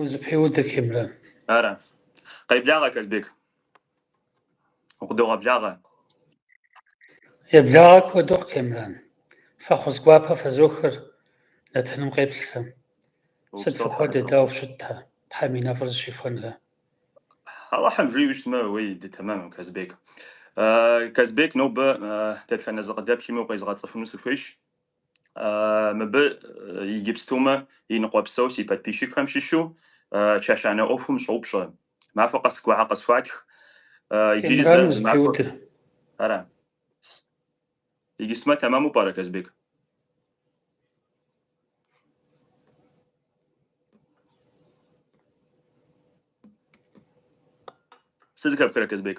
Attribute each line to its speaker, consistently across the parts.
Speaker 1: Узыпеудыр, Кемран.
Speaker 2: Ара. Къеблагъэ, Казбек. Укъыдогъэблагъэ. Еблагъэ
Speaker 1: куэд ухъу, Кемран. Фӏэхъус гуапэ фэзохыр нэтыным къеплъхэм. Сыт фыхуэдэ, дауэ фыщытхэ, Тхьэм и нэфӏыр
Speaker 2: зыщихуэнхэ? Алыхьым жиӏэу щытмэ, уи дей тэмэм, Казбек. Казбек, нобэ дэтхэнэ зы къыдэплъми укъезыгъэцӏыхуну сыхуейщ. Мыбы Иджыпстумэ и ныкъуэпсэу си подписчикхэм щыщу чэщанэ ӏуэхум щӏоупщӏэ. Махуэ къэс гуахьэ къысхуатх. Иджыри зэ Кемран махуэ.
Speaker 1: зэпеуды. Ара.
Speaker 2: Иджыпстумэ тэмэму пӏэрэ, Казбек? Сызыхэпхрэ, Казбек?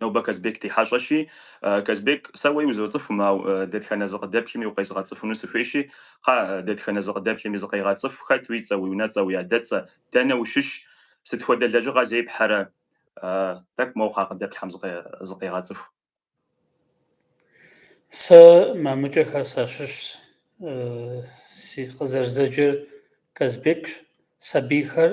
Speaker 2: Нобэ Казбек ди хьэщӏэщи, Казбек, сэ уэ узоцӏыхум, ауэ дэтхэнэ зы къыдэплъми укъезыгъэцӏыхуну сыхуейщи, кхъэ, дэтхэнэ зы къыдэплъми зыкъегъэцӏыху, хэт уи цӏэ, уи унэцӏэ, уи адэцӏэ, дэнэ ущыщ, сыт хуэдэ лэжьыгъэ зепхьэрэ? Тӏэкӏу моуэ кхъэ къыдэплъхьэм зыкъегъэцӏыху. Сэ Мамыкӏэхэ сащыщщ.
Speaker 1: Си къызэрызэджэр Казбекщ. Сабийхэр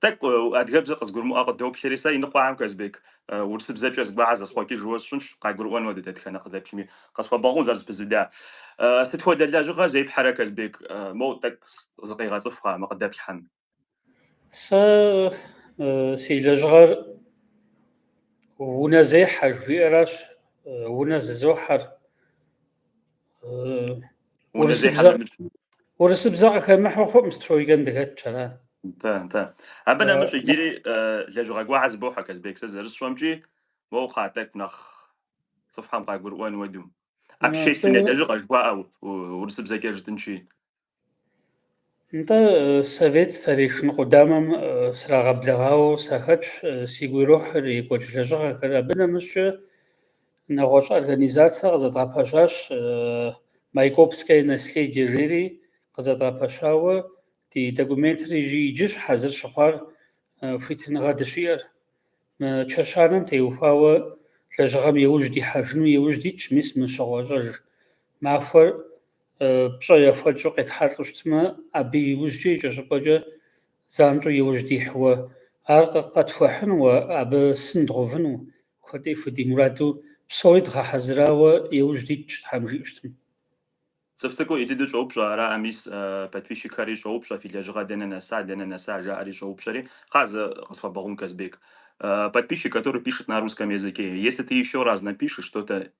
Speaker 2: Тӏэкӏу адыгэбзэр къызгурымыӏуэ къыдоплъри сэ, иныкъуэхэм Казбек, урысыбзэкӏэ зыгуахьэ зэсхъуэкӏыжу сщӏынщ, къагурыӏуэн уэдэу дэтхэнэ къыдэплъми, къысхуэбгъэгъун зэрызэпызуда. Сыт хуэдэ лэжьыгъэ зепхьэрэ Казбек, моу тӏэкӏу зыкъегъэцӏыху кхъэ мы къыдэплъхьэм?
Speaker 1: Сэ си лэжьыгъэр унэ зехьэ жыхуиӏэращ, унэ зызохьэр. Урысыбзэ къыхэмыхьэу хъуӏым стройкэм дыхэтщ ара. Нтэ, нтэ.
Speaker 2: Абы нэмыщӏ иджыри лэжьыгъэ гуахьэ зыбохьэ Казбек, сэ зэрысщӏэмкӏи моуэ кхъэ тӏэкӏу нэхъ цӏыхухэм къагурыӏуэн уэду. Общественнэ лэжьыгъэ жыхуаӏэ урысыбзэкӏэ жытӏынщи.
Speaker 1: Нтӏэ, совет старейшин къудамэм срагъэблэгъауэ сахэтщ. Сигу ирохьыр екӏуэкӏ лэжьыгъэхэр. Абы нэмыщӏчӏэ нэгъуэщӏ организацэ къызэдгъэпэщащ Майкопское наследие жери, къызэдгъэпэщауэ ди документыр иджы- иджыщ хьэзыр щыхъуар хуитыныгъэ дыщиӏэр. Мы чэщанэм теухуауэ лэжьыгъэм и ужь дихьэжыну и ужь дитщ, мис мы щыгъуэ-щӏэж махуэр. пщӏэ яхуэкӏыу къетхьэлӏэу щытмэ, абы иужькӏэ икӏэщӏыпӏэкӏэ занщӏэу иужь дихьуэ, ар къэтхуэхьынууэ, абы сын дгъэувыну, куэд ӏей худимураду псори дгъэхьэзырауэ иужь дитщ, Тхьэм жиӏэу щытмэ.
Speaker 2: Цӏыф цӏыкӏу Изиду щӏоупщӏэ, араӏэ, мис подписчикхэри щӏоупщӏэ, фи лэжьыгъэ дэнэ нэса, дэнэ нэса, жаӏэри щӏоупщӏэри, кхъа зэ къысфэбэгъун, Казбек. Подписчик, который пишет на русском языке, если ты еще раз напишешь что-то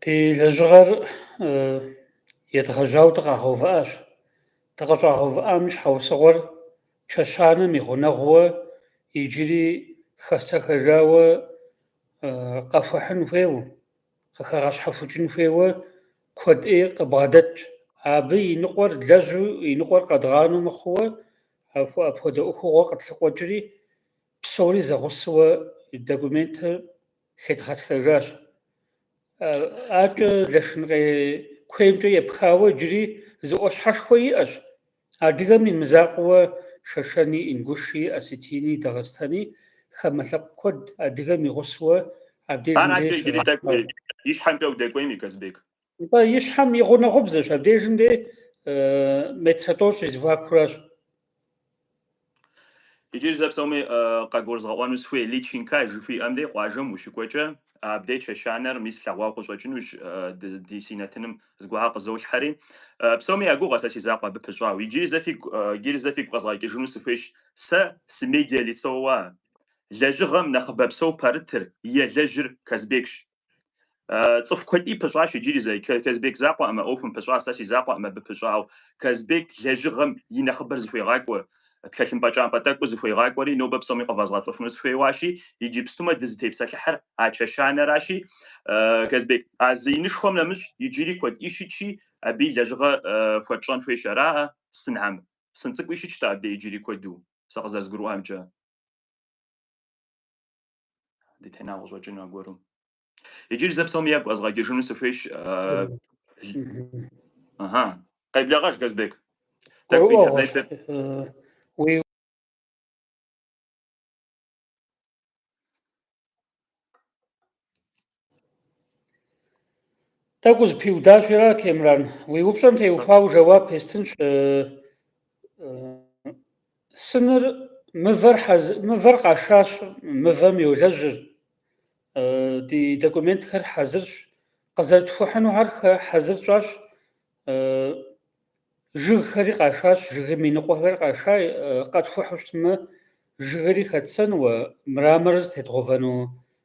Speaker 1: Ди лэжьыгъэр едгъэжьауэ дыкъагъэувыӏащ. Дыкъыщӏагъэувыӏам и щхьэусыгъуэр чэщанэм и гъунэгъууэ иджыри хэсэхэжауэ къэхуэхьын хуейуэ, къыхэгъэщхьэхукӏын хуейуэ куэд ӏей къыбгъэдэтщ. Абы и ныкъуэр лэжьу, и ныкъуэр къэдгъанэу мыхъууэ апхуэдэ ӏуэхугъуэ къытлъыкъуэкӏри, Псори зэгъусэуэ документыр хедгъэтхэжащ. Акӏэ Лэшынкъей куеймкӏэ епхауэ иджыри зы ӏуащхьэшхуэ иӏэщ. Адыгэм и мызакъуэуэ Шэшэни, Ингуши, Осетини, Дагъыстэни хамэ лъэпкъ куэд адыгэм и гъусэуэ абдежым Ар акӏэ иджыри тӏэкӏу
Speaker 2: и щхьэмкӏэ удэкӏуейми, Казбек. Нтӏэ, и
Speaker 1: щхьэм и гъунэгъубзэщ, абдежым де метрэ тӏощӏ
Speaker 2: и зэхуакуращ. Иджыри зэ псоми къэгурызгъэӏуэну сыхуей, Личинка жыхуиӏэм де къуажэм ущыкӏуэкӏэ, абдеж чэщанэр мис лъэгъуауэ къыщӏэкӏынущ, ди си нэтыным зыгуэрхьэр къызолъхьэри. Псоми я гугъэ сэ си закъуэ абы пыщӏауэ. Иджыри зэ фигу, иджыри зэ фигу къэзгъэкӏыжыну сыхуейщ, сэ сымедиалицоуэ лэжьыгъэм нэхъыбэпсэу пэрытыр, елэжьыр Казбекщ. Цӏыху куэди пыщӏащ иджыри зэ. Казбек закъуэӏымэ ӏуэхум пыщӏа, сэ си закъуэӏым абы пыщӏауэ. Казбек лэжьыгъэм и нэхъыбэр зыхуегъакӏуэ, тхэлъымпӏэ кӏампӏэ тӏэкӏур зыхуегъакӏуэри, нобэ псоми къывэзгъэцӏыхуну сыхуейуащи, иджыпстумэ дызытепсэлъыхьыр а чэщанэращи, Казбек, а зы инышхуэм нэмыщӏ иджыри куэди щытщи, абы и лэжьыгъэ хуэтщӏэн хуейщ араӏэ, сынхьэм? Сын цӏыкӏуи щытщ-тӏэ абдей иджыри куэду, сэ къызэрызгурыӏуамкӏэ. дытена къыщӏэкӏыну аргуэру. Иджыри зэ псоми ягу къэзгъэкӏыжыну сыхуейщ. Ага. Къеблэгъэж, Казбек. Тӏэкӏу интернетыр. Уи
Speaker 1: Тӏэкӏу зыпиудащ ара, Темран. Уи упщӏэм теухуауэ жэуап естынщ. Э, э, сыныр мывэр, хьэз... мывэр къашащ, мывэм йолэжьыр. Э, ди документхэр хьэзырщ. Къызэрытхухьынухэр хьэзыр тщӏащ. Э, жыгхэри къашащ, жыгым и ныкъуэхэр къаша, э, къэтхухьу щытмэ, жыгри хэтсэнууэ, мраморыр зытедгъэувэну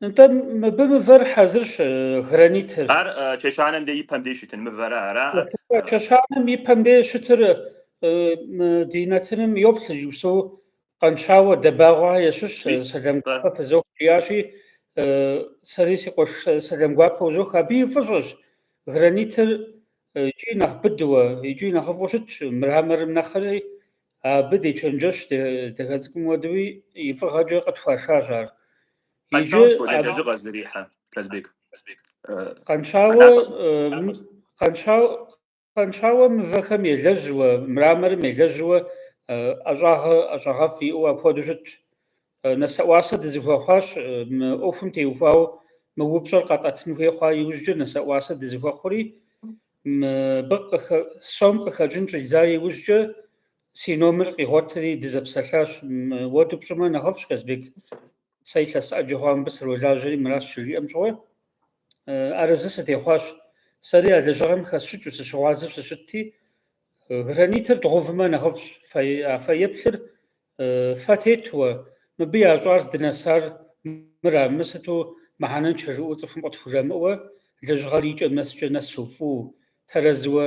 Speaker 1: Нтӏэ, мыбы мывэр хьэзырщ, э, гранитыр. Ар э,
Speaker 2: чэщанэм дэ и пэм дей щытын мывэрэ араӏэ. Чэщанэм и
Speaker 1: пэм дей щытыр э, мы ди нэтыным йоплъ иджыпсту Къэншауэ Дэбагъуэх ящыщ э, Мис, сэлам э. гуапэ фызох жиӏащи, э, сэри си къуэш э, сэлам гуапэ узох. Абы и фӏыщӏэщ гранитыр э, икӏи нэхъ быдуэ, икӏи нэхъыфӏу щытщ, мраморым нэхъри, Абы дечэнджэщ, дахэ цӏыкӏум уэдэуи и фӏыгъэкӏэ къытхуашащ ар. Иджы
Speaker 2: Къэнщауэ сыт хуэдэ лэжьыгъэ зрихьэ, Казбек?
Speaker 1: Къэнщауэ, Къэнщауэ мывэхэм елэжьуэ, мраморым елэжьуэ ӏэщӏагъэ ӏэщӏагъэфӏ иӏэу апхуэдэу щытщ. Э, нэсэӏуасэ дызыхуэхъуащ э, мы ӏуэхум теухуау мы упщӏэр къэтӏэтын хуей хъуа иужькӏэ нэсэӏуасэ дызыхуэхъури мыбы сом къыхэкӏын щӏидза иужькӏэ си номер къигъуэтри дызэпсэлъащ уэду пщӏымэ нэхъыфӏщ Казбек сэ илъэс ӏэджэ хъуа мыбы сролажьэри мыращ щыжиӏэм щыгъуэ арэзы э, сытехъуащ сэри а лэжьыгъэм хэсщӏыкӏыу сыщыгъуазэу сыщытти гранитыр дгъувмэ нэхъыфӏщ а фэеплъыр Фэ тетуэ, мыбы ящӏар здынэсар мыра? Мы сыту мыхьэнэнчэ жыӏуэу цӏыхум къытхужамыӏуэ, лэжьыгъэр икӏэм нэскӏэ нэсу фӏыу, тэрэзыуэ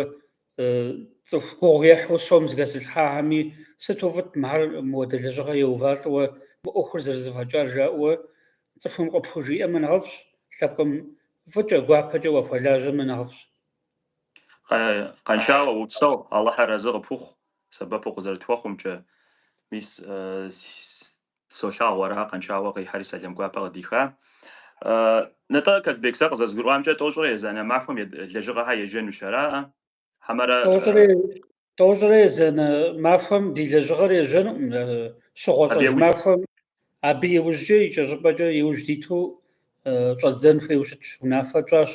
Speaker 1: цӏыху гугъу ехьу сом зыхэзылъхьахэми, сыту фӏыт мыхьэр мыуэдэ лэжьыгъэ еувалӏэуэ, мы ӏуэхур зэрызэфӏэкӏар жаӏэуэ цӏыхум къыпхужиӏэмэ нэхъыфӏщ, лъэпкъым фӏыкӏэ, гуапэкӏэ уахуэлажьэмэ нэхъыфӏщ. Къэншауэ,
Speaker 2: упсэу, Алыхьыр арэзы къыпхухъу, Сэбэпу къызэрытхуэхъумкӏэ, мис солъагъу ара Къэншауэ къихьэри сэлэм гуапэ къыдиха. Нытӏэ, Казбек, сэ къызэзгурыӏуамкӏэ, тӏощӏрэ езанэ махуэм лэжьыгъэхэр ежьэнущ, араӏэ? Хьэмэрэ?
Speaker 1: Тӏощӏрэ, тӏощӏрэ езанэ махуэм ди лэжьыгъэр ежьэнукъым, щыгъуэ-щӏэж махуэм, абы иужькӏэ, икӏэщӏыпӏэкӏэ иужь диту щӏэддзэн хуейуэ щытщ, унафэ тщӏащ.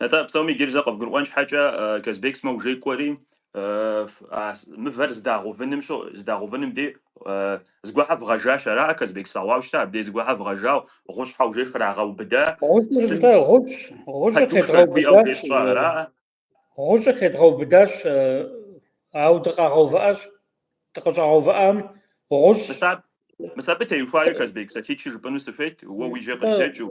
Speaker 2: Нтӏэ, псоми иджыри зэ къывгурыӏуэн щхьэкӏэ, Казбек сымэ уже кӏуэри, а мывэр здагъэувыным що, здагъэувыным дей зыгуэхьэ вгъэжащ, араӏэ, Казбек, слъэгъуау щытэ, абдей зыгуэхьэ вгъэжау, гъущӏхьэ уже храгъэубыда, Гъущӏыр сым нтӏэ, гъущӏ, гъущӏыр подушкэ хуиӏэу
Speaker 1: къедгъэубыдащ, къещӏа, араӏэ? гъущӏыр хедгъэубыдащ, э, ауэ дыкъагъэувыӏащ, дыкъыщӏагъэувыӏам гъущӏ. Мыс аб,
Speaker 2: мыс абы теухуари, Казбек, псалъитӏ-щы жыпӏэну сыхуейт, уэ уи жьэ Нтӏэ, къыжьэдэкӏыу.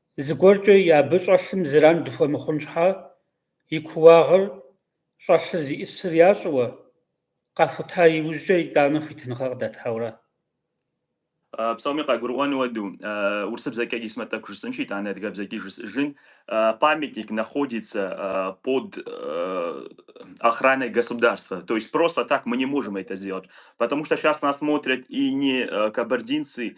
Speaker 1: Зыгуэркӏэ и абы щӏэлъым зэран дыхуэмыхъун щхьэ, и кууагъыр, щӏэлъыр зиӏысыр ящӏыуэ, къахута иужькӏэ итӏанэ хуитыныгъэ къыдатауэрэ.
Speaker 2: Псоми къагурыӏуэн уэду, урысыбзэкӏэ исмэ тӏэкӏу жысӏынщи, итӏанэ адыгэбзэкӏи жысӏыжын, Памятник находится под охраной государства, то есть просто так мы не можем это сделать, потому что сейчас нас смотрят и не кабардинцы,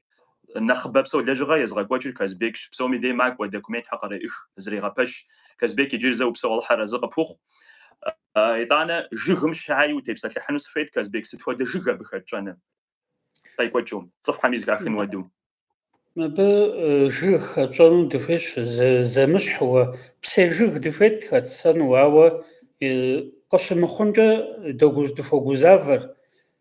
Speaker 2: Нэхъыбэ псо лэжьыгъэ езыгъэкӏуэкӏыр Казбекщ, псоми дей макӏуэ, документхэр къреӏых, зэрегъэпэщ. Казбек иджыри зэ упсэу Алыхьыр арэзы къыпхухъу. Итӏанэ жыгым щхьаи утепсэлъыхьыну сыхуейт, Казбек, сыт хуэдэ жыг абы хэтщӏэну? Къекӏуэкӏыу, цӏыхухэми зыхахын хуэдэу.
Speaker 1: Абы жыг хэтщӏэну дыхуейщ, зэмыщхьэуэ, псей жыг дыхуейт хэтсэну, ауэ къыщымыхъункӏэ дыхуэгузавэр,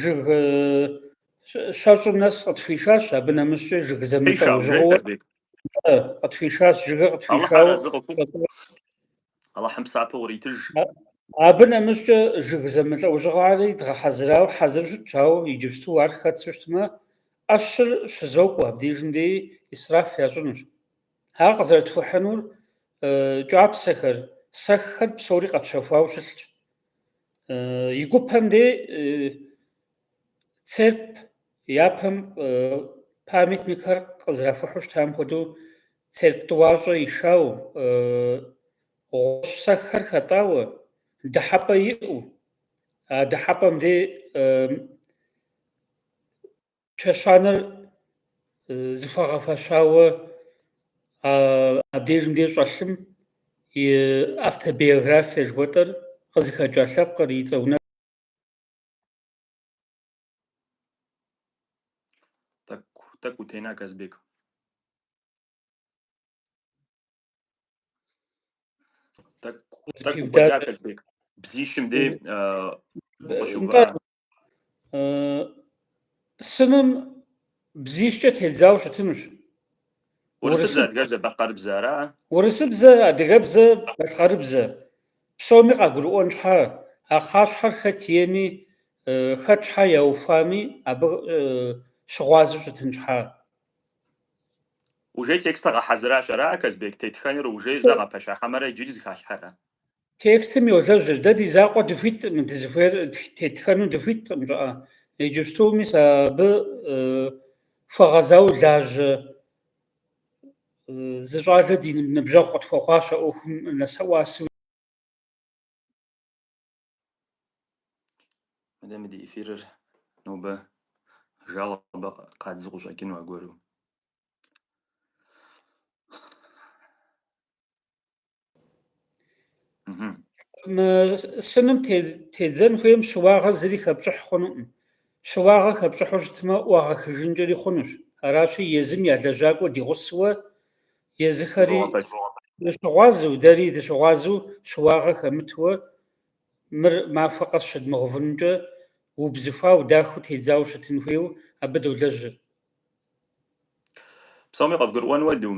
Speaker 1: жыг щэщӏым нэс къытхуишащ, абы нэмыщӏкӏэ жыг зэмылӏэужьыгъуэ къытхуишащ, жыгыр къытхуишауэ.
Speaker 2: Аллахьым псапэу иритыж. Абы
Speaker 1: нэмыщӏкӏэ жыг зэмылӏэужьыгъуэри дгъэхьэзырауэ хьэзыр щытщ, ауэ иджыпсту ар хэтсу щытмэ, ӏэщыр щызокӏуэ, абдежым деи исраф ящӏынущ. Ар къызэрытхухьынур кӏапсэхэр, сэххэр псори къэтщэхуауэ щылъщ. Э, и гупэм де э, церп япэм э, памятникхэр къызэрахухьу щытам хуэдэу церп тӏуащӏэ ишауэ гъущӏ сэххэр хэтӏауэ дыхьэпӏэ иӏэу а дыхьэпӏэм де чэщанэр зыхуагъэфэщауэ абдежым де щӏэлъым и автобиографие жыхуэтӏэр къызыхэкӏа лъэпкъыр и цӏэ унэ. Тӏэкӏу утена, Казбек.
Speaker 2: Тӏэкӏу укӏуэда, Казбек. Бзищым де укъыщыувыӏа.
Speaker 1: сыным бзищкӏэ тедзауэ щытынущ. Урысыбзэ,
Speaker 2: адыгэбзэ, балъкъэрыбзэ ара? Урысыбзэ,
Speaker 1: адыгэбзэ, балъкъэрыбзэ. Псоми къагурыӏуэн щхьа, а кхъащхьэр хэт ейми, хэт щхьа яухуами, абы щыгъуазэу щытын
Speaker 2: щхьа. Уже текстыр гъэхьэзыращ ара, Казбек, тетхэныр уже зэгъэпэща хьэмэрэ иджыри зыхалъхьэрэ?
Speaker 1: Текстым йолэжьыр, дэ ди закъуэ дыхуиткъым, дызыхуейр тетхэну дыхуиткъым, жаӏэ. Иджыпсту мис абы хуэгъэзауэ лажьэ зы щӏалэ ди ныбжьэгъу къытхуэхъуащ а ӏуэхум нэӏуасэу.
Speaker 2: Мыдэ мы ди эфирыр нобэ жалобэ къадзу къыщӏэкӏыну аргуэру.
Speaker 1: Мы сыным тедзэн хуейм щыуагъэ зыри хэпщӏыхь хъунукъым. Щыуагъэ хэпщӏыхьу щытмэ, ӏуагъэхыжынкӏэри хъунущ. Аращи, езым я лэжьакӏуэ ди гъусэуэ, езыхэри дыщыгъуазэу, дэри дыщыгъуазэу щыуагъэ хэмытуэ, мыр махуэ къэс щыдмыгъэувынукӏэ, убзыхуауэ, дахэу тедзауэ щытын хуейуэ абы долэжьыр.
Speaker 2: Псоми къывгурыӏуэн уэду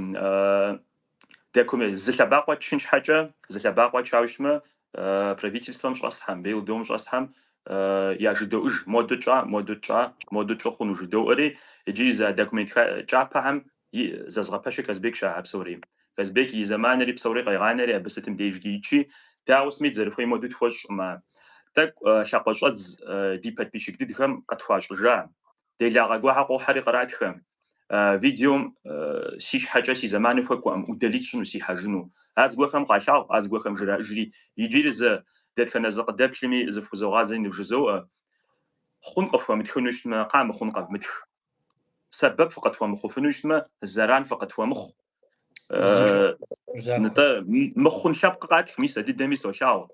Speaker 2: документ, зы лъэбакъуэ тчын щхьэкӏэ, зы лъэбакъуэ тчауэ щытмэ, правительствэм щӏэсхьэм, БелДом щӏэсхьэм яжыдоӏуж, моду тщӏа, моду тщӏа, моду тщӏы хъуну жыдоӏэри, иджыри зы документ кӏапэхьэм зэзгъэпэщыр Казбек щыӏэ а псори. Казбек и зэманри псори къегъанэри абы сытым дежкӏи ичи, дауэ сымейт зэрыхуей моду тхуэщӏмэ. Тӏэкӏу лъакъуэ щӏэдз ди подписчик дыдхэм къытхуащӏыжа Делагъэ гуэхьэ къохьэри къратхэ. Видеом си щхьэкӏэ си зэманым хуэкӏуэкъым, удалить щӏыну сыхьэжыну. А зыгуэхэм къалъагъу, а зыгуэхэм жраӏэжри. Иджыри зэ дэтхэнэ зы къыдэплъми, зыхузогъазэри нывжызоӏэ. Хъун къыфхуэмытхыну щытмэ, къамыхъун къэвмытх. Сэбэп фыкъытхуэмыхъуфыну щытмэ, зэран фыкъытхуэмыхъу. нтӏэ мыхъун лъэпкъ къатх, мис а дыдэми солъагъу.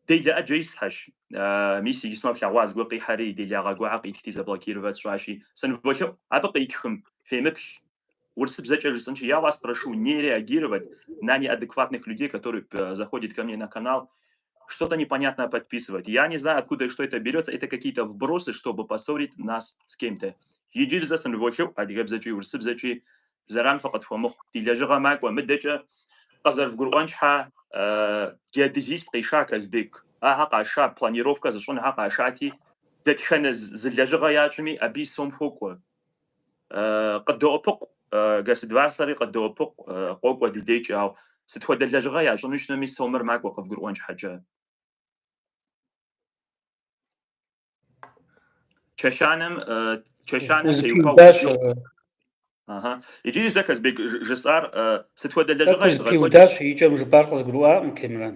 Speaker 2: Делэ ӏэджэ исхьэщ. Мис иджыпсту флъэгъуа зыгуэр къихьэри, делагъэ гуэхьэ къитхти заблокировать сщӏащи, сыныволъэӏу, абы къитхым фемыплъ. Урысыбзэкӏэ жысӏынщи, я вас прошу не реагировать на неадекватных людей, которые заходят ко мне на канал, Что-то непонятное подписывать. Я не знаю, откуда и что это берется. Это какие-то вбросы, чтобы поссорить нас с кем-то. Иджыри зэ сыныволъэӏу адыгэбзэкӏи урысыбзэкӏи зэран фыкъытхуэмыхъу. Ди лэжьыгъэ макӏуэ. Мыдэкӏэ къызэрывгурыӏуэн щхьэ, геодезист къиша Казбек. Ахэр къаша, планировка зыщӏынхэр къашати, дэтхэнэ зы лэжьыгъэ ящӏми, абы и сом хуокӏуэ. Къыдоӏыпыкъу, государствэри къыдоӏыпыкъу, къокӏуэ ди декӏи, ауэ сыт хуэдэ лэжьыгъэ ящӏыну щытми, сомыр макӏуэ къывгурыӏуэн щхьэкӏэ. Чэщанэм, чэщанэм теухуауэ Узыпиудащ. укӏыу. Аха. Иджыри зэ Казбек ж- жысӏар э, сыт хуэдэ Тӏэкӏу лэжьыгъэ изыгъэкӏуэкӏыр? узыпиудащ, и кӏэм
Speaker 1: жыпӏар къызгурыӏуакъым, Темран.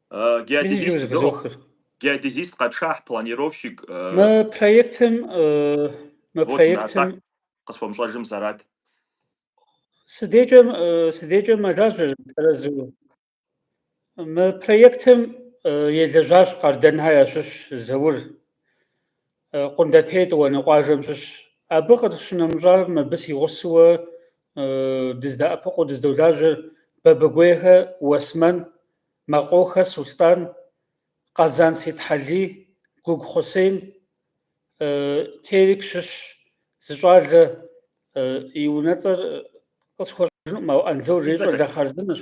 Speaker 2: Геодезист къэтшахь, планировщик.
Speaker 1: Мы проектым, мы
Speaker 2: проектым къысфомщӏэжым сэрат. Си
Speaker 1: декӏэ, си декӏэ мэлажьэ тэрэзу. Мы проектым елэжьащ Къардэнхэ ящыщ Заур. Къундэтей тӏуанэ къуажэм щыщ. Абы къыщынэмыщӏа мыбы си гъусэуэ дыздэӏэпыкъуу дыздолажьэр Бабыгуейхэ Уэсмэн Мэкъохэ Сулътӏан, Къэзан Сетхьэлий, Гугу Хъусейн, Тэрч щыщ зы щӏалэ и унэцӏэр къысхуэщӏэжынукъым, ауэ Анзор жери щӏалэ хъарзынэщ.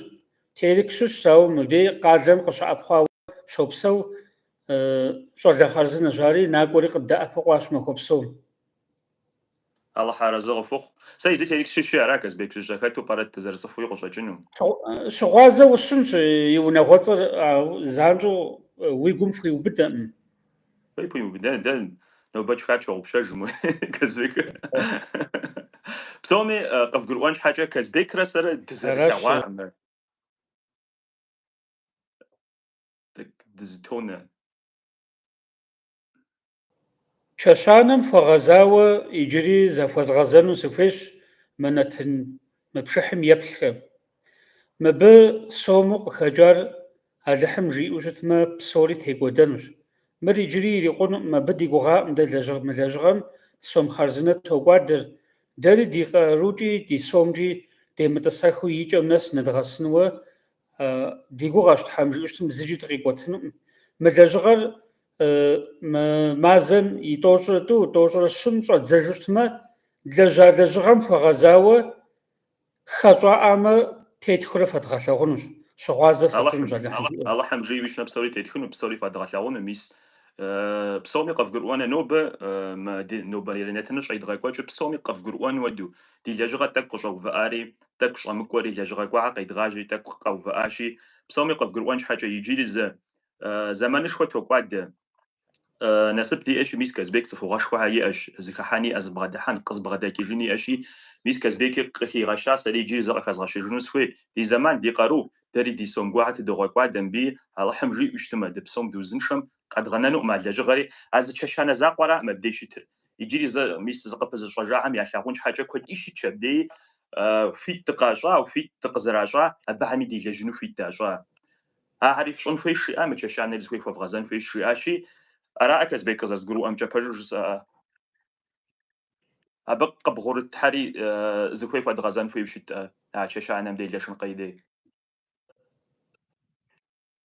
Speaker 1: Тэрч щыщ, ауэ мыбдей къалэм къыщыӏэпхъуауэ щопсэу, щӏалэ хъарзынэщ ари, накӏуэри къыддэӏэпыкъуащ махуэ псом.
Speaker 2: Алыхь арэзы къыхухъу. Сэ изи Терек щыщи ара Казбек жыжьэ хэту пӏэрэт дызэрыцӏыхуи къыщӏэкӏыну.
Speaker 1: Щыгъуазэ усщӏынщ, и унагъуэцӏэр, ауэ занщӏэу уи гум пхуиубыдэкъым. Фӏей пхуиубыдэн,
Speaker 2: дэ нобэ тшха тщогъупщэж, мой Казбек. Псоми къывгурыӏуэн щхьэкӏэ Казбекрэ сэрэ дызэрылъэгъуакъым. Дызытонэ.
Speaker 1: Чэщанэм хуэгъэзауэ иджыри захуэзгъэзэну сыхуейщ мы нэтын мы пшыхьым еплъхэм. Мыбы сому къыхэкӏар Алыхьым жиӏэу щытмэ, псори текӏуэдэнущ. Мыр иджыри ирикъунукъым, абы ди гугъакъым дэ лэжьыгъэ мы лэжьыгъэм сом хъарзынэ токӏуадэр, дэри ди къарукӏи ди сомкӏи демытӏысэхыу и кӏэм нэс нэдгъэсынуэ ди гугъэщ Тхьэм жиӏэу щытым зыкӏи дыкъикӏуэтынукъым. Мы лэжьыгъэр мазэм и тӏощӏрэ тӏу, тӏощӏрэ щым щӏэдзэжу щытмэ, длэжьа лэжьыгъэм хуэгъэзауэ хэщӏаӏамэ тетхурэ фэдгъэлъэгъунущ, щыгъуазэ фэтщӏынущ Алыхьым жиӏэу. Алыхьым жиӏэу щытмэ
Speaker 2: псори тетхыну, псори фэдгъэлъэгъуну, мис псоми къывгурыӏуэну нобэ мы ди нобэрей нэтыныр щӏедгъэкӏуэкӏыр псоми къывгурыӏуэн хуэдэу, ди лэжьыгъэр тӏэкӏу къыщӏэувыӏари тӏэкӏу щӏэмыкӏуэри, лэжьыгъэ гуэрхьэ къедгъажьи, тӏэкӏу къэувыӏащи, псоми къывгурыӏуэн щхьэкӏэ иджыри зы зэманышхуэ токӏуадэ. Насып диӏэщи, мис Казбек цӏыхугъэшхуэхьэ иӏэщ, зыхыхьэн иӏэ, зыбгъэдыхьэн, къызыбгъэдэкӏыжын иӏэщи, мис Казбеки къыхигъэща, сэри иджыри зэ къыхэзгъэщыжыну сыхуей, ди зэман, ди къару, дэри ди сом гуэрхьэ тыдогъэкӏуадэ мыбыи, Алыхьым жиӏэу щытмэ, дыпсом дыузыншэм Къэдгъэнэнукъым а лэжьыгъэри, а зы чэщанэ закъуэракъым абдеж щытыр. Иджыри зэ, мис, зыкъыпызыщӏэжахэм ялъагъун щхьэкӏэ куэди щытщ абдеи, Хуит дыкъащӏа, хуит дыкъызэращӏа, абыхэми делэжьыну хуит дащӏа? Ахэри фщӏын хуейщ жиӏа, мы чэщанэри зыхуей хуэвгъэзэн хуейщ жиӏащи, араӏэ Казбек къызэрызгурыӏуэмкӏэ пэжу жысӏэӏэ? Абы къыбгъурытхьэри зыхуей хуэдгъэзэн хуейу щытӏэ а чэщанэм делэжьын къудей?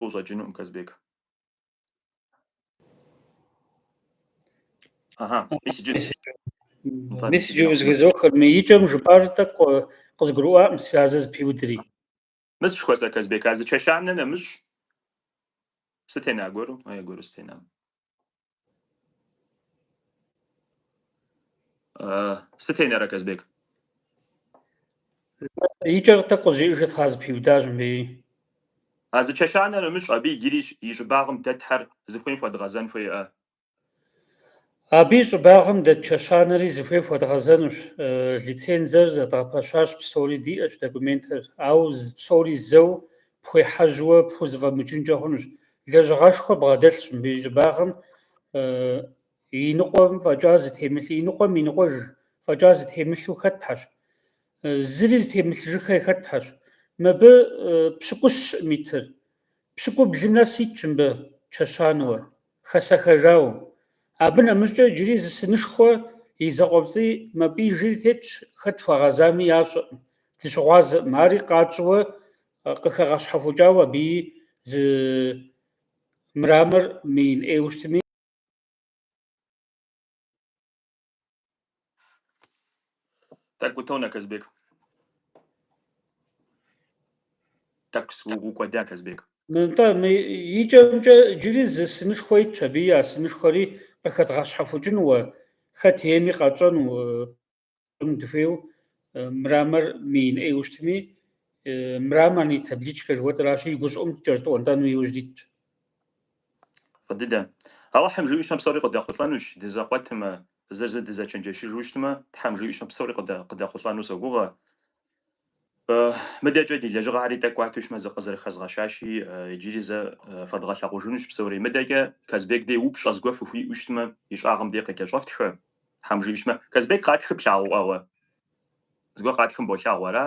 Speaker 2: ущӏэкӏынукъым, Казбек. Ага,
Speaker 1: мис иджы узэхызохыр. Мы икӏэм жыпӏар тӏэкӏу къызгурыӏуакъым, связэ зыпиудри.
Speaker 2: Мис жыхуэсӏэ, Казбек, а зы чэщанэ нэмыщӏ стена гуэру, а я гуэру стенам. Сыт енэрэ
Speaker 1: Казбек? Икӏэр тӏэкӏу къызжеӏэжыт тхьэ зыпиудащ мыбыи. А
Speaker 2: зы чэщанэ нэмыщӏ, абы иджыри и щӏыбагъым дэтхэр зыхуейм хуэдгъэзэн
Speaker 1: хуейӏэ? Абы и щӏыбагъым дэт чэщанэри зыхуей хуэдгъэзэнущ. Лицензэр зэдгъэпэщащ, псори диӏэщ, документыр. Ауэ псори зэу пхуехьэжьуэ, пхузэфӏэмыкӏынкӏэ хъунущ. Лэжьыгъэшхуэ бгъэдэлъщ мыбы и щӏыбагъым и ныкъуэм фӏэкӏа зытемылъ, и ныкъуэм и ныкъуэж фӏэкӏа зытемылъу хэтхьэщ, зыри зытемылъыжыххэ хэтхьэщ. Мыбы пщыкӏущкъым итыр. Пщыкӏублым нэс итщ мыбы чэщануэ. хэсэхэжауэ. Абы нэмыщӏкӏэ иджыри зы сынышхуэ и закъуэпцӏий мапӏиижри тетщ, хэт хуагъэзами ящӏэркъым, дыщыгъуазэкъым, ари къэтщӏэуэ къыхэгъэщхьэхукӏауэ абыи зы мрамор мыин ӏейуэ щытми.
Speaker 2: Тӏэкӏу утонэ Казбек. Тӏэкӏу укӏуэда Казбек. Мынтӏэ мы
Speaker 1: икӏэмкӏэ джыри зы сынышхуэ итщ, абыи а сынышхуэри къыхэдгъэщхьэхукӏынуэ, хэт ейми къэтщӏэну дыхуейу мрамор мыин ӏейуэ щытми, мраморный табличка жыхуэтӏэращи, и гущӏыӏум кӏэрытӏуэнтӏэну иужь дитщ.
Speaker 2: Дыдэ. Алыхьым жиӏущмэ псори къыдэхъулӏэнущ, дызэкъуэтмэ, зыр зы дызэчэнджэщыжу щытмэ, Тхьэм жиӏущмэ псори къыдэхъулӏэну согугъэ. Мыдэкӏэ ди лэжьыгъэхьэри тӏэкӏу кӏуатущмэ, зыкъызэрыхэзгъэщащи, иджыри зэ фэдгъэлъэгъужынущ псори. Мыдэкӏэ Казбек дей упщӏэ зыгуэр фыхуиӏэу щытмэ, и щӏагъым дей къыкӏэщӏэфтхэ, Тхьэм жиӏущмэ. Казбек къатхым плъагъукъэ уэ? Зыгуэр къатхым болъагъу ара?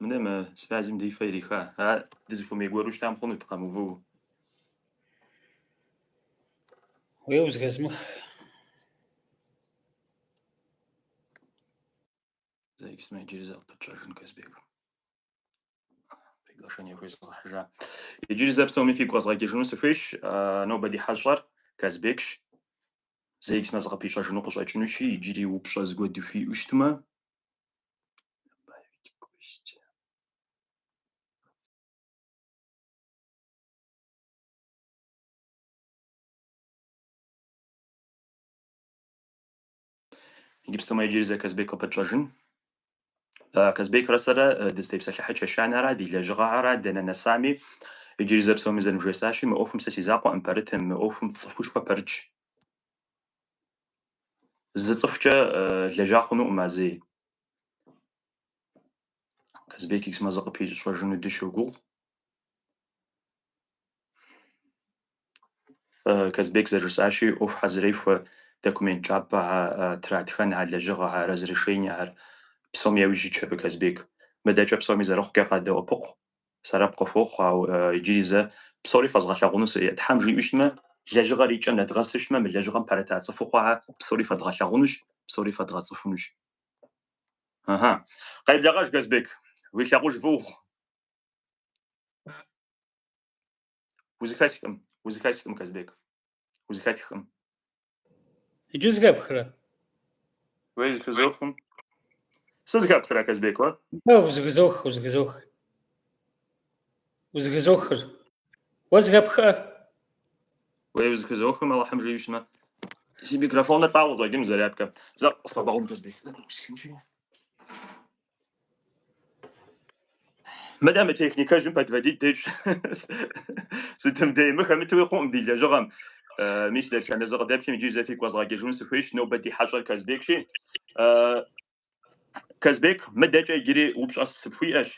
Speaker 2: Мыдэ мы связым ди фэ ириха. Ар дызыхуэмей гуэру щытам хъунут
Speaker 1: къэмыувыу. Уей узэхэзмых.
Speaker 2: Зэиксмэ иджыри зэ къыпытщӏэжын Казбек. Приглашение хуезгъэхьыжа. Иджыри зэ псоми фигу къэзгъэкӏыжыну сыхуейщ. Нобэ ди хьэщӏэр Казбекщ. Зэиксмэ зыкъыпищӏэжыну къыщӏэкӏынущи, иджыри упщӏэ зыгуэр дыхуиӏэу щытмэ, добавить гости. Гипсомэ иджыри зэ Казбек къыпытщӏэжын. Казбекрэ сэрэ дызытепсэлъыхьэ чэщанэра, ди лэжьыгъэхьэра, дэнэ нэсами, иджыри зэ псоми зэрывжесӏащи, мы ӏуэхум сэ си закъуэкъым пэрытым, мы ӏуэхум цӏыхушхуэ пэрытщ. Зы цӏыхукӏэ лэжьа хъунукъым а зэи. Казбек Иксмэ зыкъыпищӏэжыну дыщогугъ. Казбек зэрыжысӏащи, ӏуэху хьэзырей хуэ документ кӏапэ тратхэн а лэжьыгъэхьэр, разрешениехэр псоми яужь итщ абы Казбек. Мыдэкӏэ псоми зэрыхъукӏэ къадэӏэпыкъу, Сэбэп къыхуохъу, ауэ иджыри зэ псори фэзгъэлъэгъунущ. Тхьэм жиӏэу щытмэ, лэжьыгъэр и кӏэм нэдгъэсу щытмэ, мы лэжьыгъэм пэрыта цӏыхуу хъуа псори фэдгъэлъэгъунущ, псори фэдгъэцӏыхунущ. Ыхьы. Къеблэгъэж, Казбек, уи лъагъуж фӏы ухъу. Узыхэсхкъым, узыхэсхкъым, Казбек. Узыхэтхкъым.
Speaker 1: Иджы зыхэпхрэ? Уей
Speaker 2: зыхызохым. Сызыхэпхрэ, Казбек, уэ? Уэ узыхызох,
Speaker 1: узыхызох. Узыхызохыр. Уэ
Speaker 2: зыхэпхкъэ? Уей узыхызохым, Аллахьым жиӏэу щымэ. Си микрофоныр лӏауэ къыщӏэкӏын зарядкэ. Зэ къысхуэбгъэгъун, Казбек. Мыдэ мы техникэжьым подводить дещӏ. Сытым дей, мы хэмытуи хъукъым ди лэжьыгъэм. Мис дэтхэнэ зы къыдэплъым иджы зэ фигу къэзгъэкӏыжыну сыхуейщ, нобэ ди хьэщӏэр Казбекщи. Казбек, мыдэкӏэ иджыри упщӏэ сыпхуиӏэщ.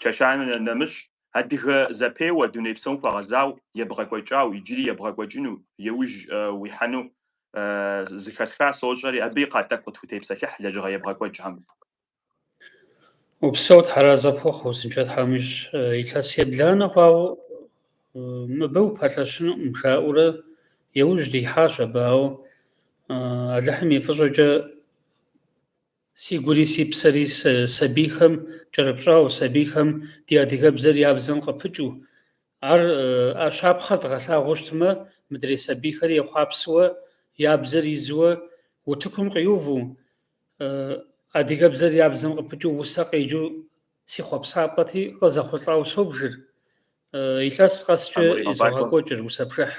Speaker 2: Чэщанэм нэмыщӏ адыгэ зэпеуэ дуней псом хуэгъэзауэ, ебгъэкӏуэкӏауэ, иджыри ебгъэкӏуэкӏыну, еужь уихьэну зыхэсха сощӏэри, абы и кхъэ тӏэкӏу къытхутепсэлъыхь лэжьыгъэ ебгъэкӏуэкӏхэм.
Speaker 1: Упсэу Тхьэр арэзы пхухъу, узыншэ Тхьэм ищӏ, илъэс ебланэ хъуауэ мыбы упэлъэщынукъым, жаӏэурэ еужь дихьащ абы, ауэ Алыхьым и фӏыщӏэкӏэ Си гури си псэри сабийхэм кӏэрыпщӏауэ, сабийхэм ди адыгэбзэр я бзэм къыпыкӏыу. Ар а щапхъэр дгъэлъагъуэу щытмэ, мыдрей сабийхэри ехъуапсэуэ, я бзэр изуэ, утыкум къиуву, адыгэбзэр я бзэм къыпыкӏыу усэ къеджэу си хъуэпсапӏэти, къызэхъулӏауэ собжыр. Илъэс къэскӏэ изогъэкӏуэкӏыр усэ пшыхь.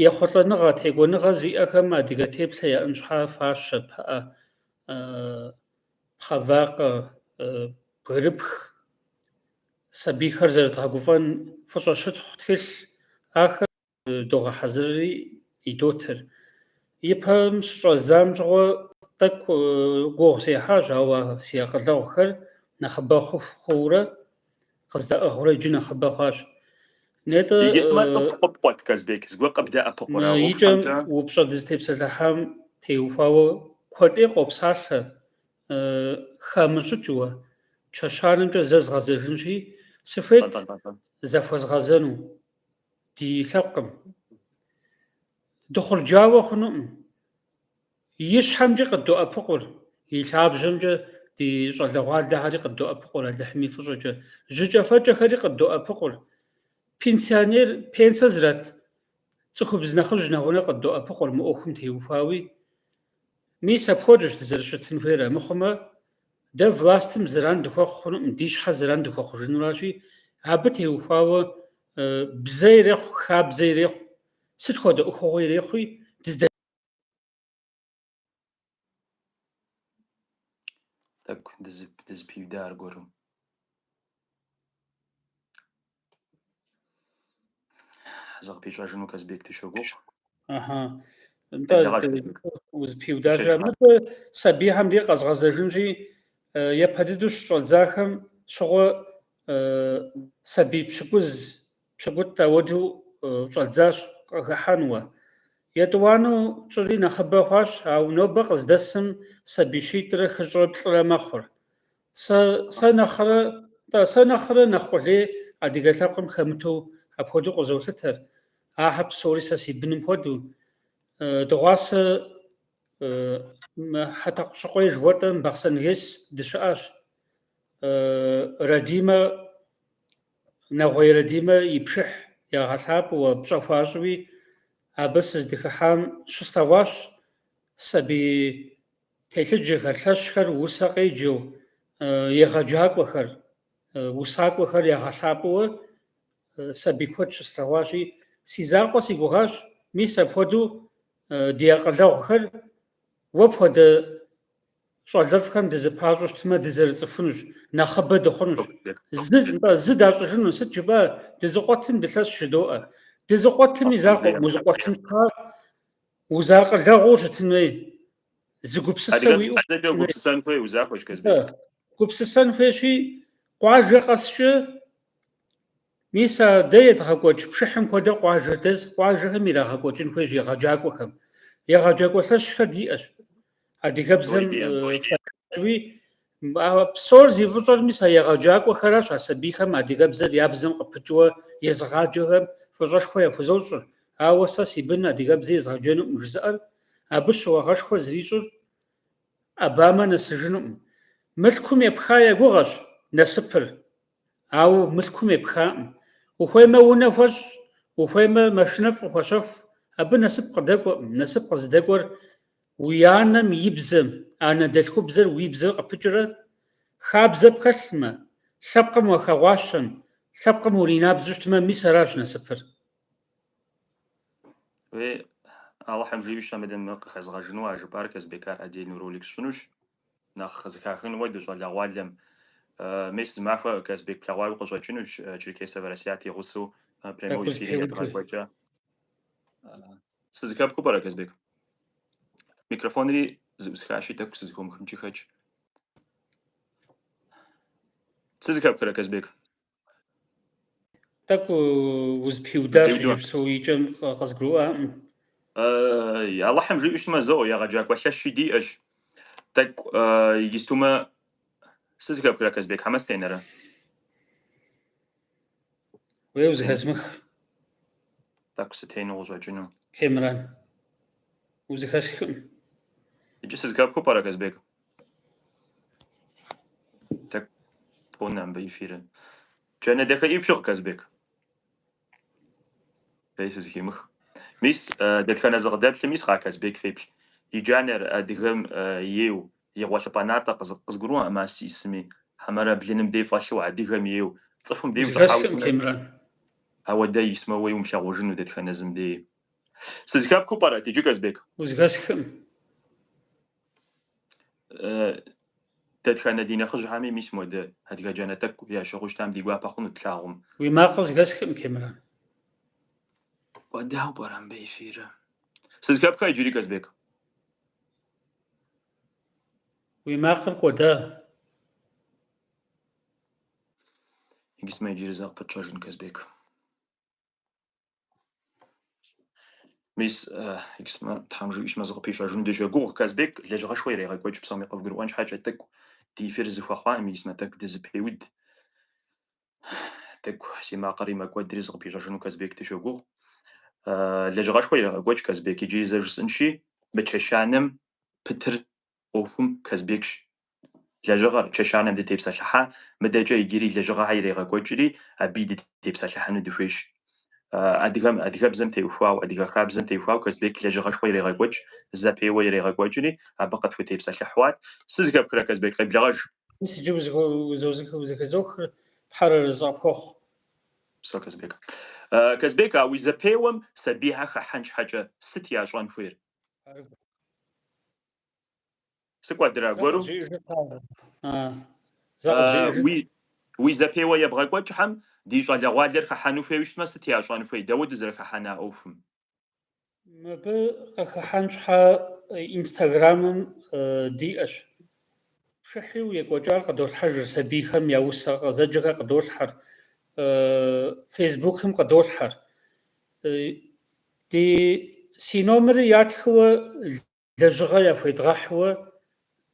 Speaker 1: Ехъулӏэныгъэ, текӏуэныгъэ зиӏэхэм адыгэ теплъэ яӏэн щхьа фащэ, пыӏэ, пхъэвакъэ, бгырыпх. Сабийхэр зэрыдгъэгуфӏэн фӏыщӏэ щытхъу тхылъ, ахэр догъэхьэзырри идотыр. Ипэм щыщӏэздзам щыгъуэ тӏэкӏу гугъу сехьащ, ауэ си акъылэгъухэр нэхъыбэ хъуху хъуурэ Къыздэӏыгъурэ иджы нэхъыбэ хъуащ. Нетӏэ. Иджы сымэ
Speaker 2: цӏыху къыпкъуэт, Казбек, зыгуэр къыбдэӏэпыкъурэ упщӏэмкӏэ? Икӏэм упщӏэ
Speaker 1: дызытепсэлъыхьам теухуауэ куэд ӏей къопсалъэ, хамыщӏыкӏыуэ, чэщанэмкӏэ зэ згъэзэжынщи, сыхуейт захуэзгъэзэну, ди лъэпкъым. Дыхъурджауэ хъунукъым. И щхьэмкӏэ къыддоӏэпыкъур, и лъабжьэмкӏэ ди щӏалэгъуалэхэри къыддоӏэпыкъур Алыхьым и фӏыщӏэкӏэ, жьыкӏэфэкӏэхэри къыддоӏэпыкъур, пенсионер, пенсэ зрат цӏыхубз нэхъыжь нэгъунэ къыддоӏэпыкъур мы ӏуэхум теухуауи. Мис апхуэдэщ дызэрыщытын хуейр, амыхъумэ, дэ властым зэран дыхуэхъу хъунукъым, ди щхьэ зэран дыхуэхъужынуращи, абы теухуауэ бзэ ирехъу, хабзэ ирехъу, сыт хуэдэ ӏуэхугъуэ ирехъуи, дыздэ.
Speaker 2: Тӏэкӏу дызыпиуда аргуэру. Зыкъыпищӏэжыну Казбек дыщогугъ.
Speaker 1: Ага. Узэпиудащ. Мыдэ сабийхэм де къэзгъэзэжынщи, япэ дыдэу щыщӏэдзахэм щыгъуэ сабий пщыкӏуз Пщыкӏутӏ хуэдэу щӏэддзащ къыхэхьэну. Етӏуанэу тщӏыри нэхъыбэ хъуащ, ауэ нобэ къыздэсым сабий щитӏрэ хыщӏрэ плӏырэ мэхъур. Сэ, сэ нэхърэ, тӏэ, сэ нэхърэ нэхъ къулей адыгэ лъэпкъым хэмытэу апхуэдэу къызолъытэр. Ахэр псори сэ си быным хуэдэу. Дыгъуасэ Хьэтӏэкъущыкъуей жыхуэтӏэм Бахъсэн-ГЭС дыщыӏащ. Радимэ Нэгъуей Радимэ и пшыхь ягъэлъапӏэуэ, пщӏэ хуащӏуи, абы сыздыхыхьам щыслъэгъуащ сабий телъыджэхэр, лъэщхэр усэ къеджэу, егъэджакӏуэхэр, усакӏуэхэр ягъэлъапӏэуэ сабий куэд щыслъэгъуащи, си закъуэ си гугъащ, мис апхуэдэу ди акъылэгъухэр уэ пхуэдэ щӏалэфӏхэм дызыпащӏэу щытмэ, дызэрыцӏыхунущ, нэхъыбэ дыхъунущ. Зы, нтӏэ, зы дащӏыжыну, сыт жыпӏэ, дызыкъуэтым дылъэщ жыдоӏэ. Дызыкъуэтым и закъуэкъым узыкъуэтын щхьа, узакъылэгъуу щытын хуей, зы гупсысэ уиӏэу гупсысэн хуей узахуэщ,
Speaker 2: Казбек. Гупсысэн
Speaker 1: хуейщи, къуажэ къэскӏэ Мис а дэ едгъэкӏуэкӏ пшыхьым хуэдэ къуажэдэс къуажэхэм ирагъэкӏуэкӏын хуейщ егъэджакӏуэхэм. Егъэджакӏуэ лъэщхэр диӏэщ. Адыгэбзэм фӏэкӏуи, псор зи фӏыщӏэр мис а егъэджакӏуэхэращ а сабийхэм адыгэбзэр я бзэм къыпыкӏыуэ езыгъаджэхэм фӏыщӏэшхуэ яхузощӏыр. Ауэ сэ си бын адыгэбзэ езгъэджэнукъым жызыӏэр, абы щыуагъэшхуэ зэрищӏыр ӏэбамэ нэсыжынукъым. Мылъкум епха я гугъэщ насыпыр. Ауэ мылъкум епхаӏым. Ухуеймэ, унэ хуэщӏ, ухуеймэ, машинэфӏ къыхуэщэху. Абы насып къыдэкӏуэӏым. Насып къызыдэкӏуэр уи анэм и бзэм, анэдэлъхубзэр уи бзэр къыпыкӏрэ, хабзэ пхэлъмэ, лъэпкъым уахэгъуащэм, лъэпкъым уринабзэу щытмэ, мис аращ
Speaker 2: насыпыр. Уей, Алыхьым жиӏэу щытмэ, мыдэ къыхэзгъэжыну а жыпӏар, Казбек, ар отдельный ролик сщӏынущ. Нэхъ къызыхахыну ди щӏалэгъуалэм мес зы махуэ Казбек плъэгъуауи къыщӏэкӏынущ Черкесовэ Расият и гъусэу прямой Тӏэкӏу эфири зыпеуд. едгъэкӏуэкӏа. Сызыхэпхыу пӏэрэ, Казбек? Микрофонри зыӏусхащи, тӏэкӏу сызыхыумыхынкӏи хэкӏ. Сызыхэпхрэ, Казбек?
Speaker 1: Тӏэкӏу узыпиудащ иджыпсту икӏэм къызгурыӏуаӏым.
Speaker 2: Алыхьым жиӏэу щытмэ, зоӏэ, егъэджакӏуэ лъэщи диӏэщ. Тӏэкӏу иджыстумэ сызыхэпхрэ Казбек хьэмэ
Speaker 1: сытенэрэ? Уей
Speaker 2: узыхэзмых. Тӏэкӏу сытену къыщӏэкӏыну? Кемран.
Speaker 1: Узыхэсхым.
Speaker 2: Иджы сызыхэпхыу пӏэрэ Казбек? Тӏэкӏу тонэ мыбы эфирыр. Джанэ дахи пщыгъ Казбек. Уей сызыхимых. Мис, э, дэтхэнэ зы къыдэплъым ис Ка- Казбек феплъ. И джанэр адыгэм э, ейу, и гъуэлъыпӏэ натӏэ къызы- къызгурыӏуэӏым а мас исми. Хьэмэрэ блыным дей фӏэлъу адыгэм ейу, цӏыхум дей Узыхэсхым щӏыхьауэ. Кемран.
Speaker 1: Ауэ
Speaker 2: дэ исмэ уей умылъагъужыну дэтхэнэ зым дей. Сызыхэпхыу пӏэрэ, иджы Казбек? Узыхэсхым. Дэтхэнэ ди нэхъыжьхьэми мис модэ адыгэ джанэ тӏэкӏу ящыгъыу щытам ди гуапэ хъунут тлъагъум. Уи макъыр
Speaker 1: зыхэсхкъым, Кемран.
Speaker 2: Кӏуэдауэ пӏэрэ мыбы эфирыр? Сызхэпхэ иджыри,
Speaker 1: Казбек. Уи макъыр
Speaker 2: кӏуэда? Иджысмэ иджыри зэ къыпытщӏэжын, Казбек. Мис, иджысмэ, Тхьэм жиӏэу щытмэ зыкъыпищӏэжыну дыщогугъ. Казбек лэжьыгъэшхуэ ирегъэкӏуэкӏ псоми къывгурыӏуэн щхьэкӏэ тӏэкӏу ди эфир зыхуэхъуаӏым, исмэ тӏэкӏу дызыпеуд. Тӏэкӏу си макъыри мэкӏуэдри зыкъыпищӏэжыну Казбек дыщогугъ. Лэжьыгъэшхуэ ирегъэкӏуэкӏ, Казбек, иджыри зэ жысӏэнщи, мы чэщанэм пытыр ӏуэхум Казбекщ. Лэжьыгъэр, чэщанэм дытепсэлъыхьа, мыдэкӏэ иджыри лэжьыгъэхьэ ирегъэкӏуэкӏри, абыи дытепсэлъыхьыну дыхуейщ. Адыгэм, адыгэбзэм теухуау, адыгэ хабзэм теухуау Казбек лэжьыгъэшхуэ ирегъэкӏуэкӏ, зэпеуэ ирегъэкӏуэкӏри, абы къытхутепсэлъыхьуат. Сызыхэпхрэ, Казбек, къеблэгъэж! Мис
Speaker 1: иджы узыхэзохыр Тхьэр арэзы къыпхуэхъу. Псэу,
Speaker 2: Казбек. Казбек, а уи зэпеуэм сабийхьэ хэхьэн щхьэкӏэ сыт ящӏэн хуейр? Сыкӏуэдрэ аргуэру? Уи зэпеуэ ебгъэкӏуэкӏхэм ди щӏалэгъуалэр хыхьэну хуейуэ щытмэ, сыт ящӏэн хуей, дауэ дызэрыхыхьэна ӏуэхум?
Speaker 1: Мыбы къыхыхьэн щхьэ Инстаграмым диӏэщ. Пшыхьу екӏуэкӏар къыдолъхьэжыр, сабийхэм я усэ къызэджэхэр къыдолъхьэр, Фейсбукым къыдолъхьэр. Ди си номерыр ятхыуэ лэжьыгъэ яхуедгъэхьуэ,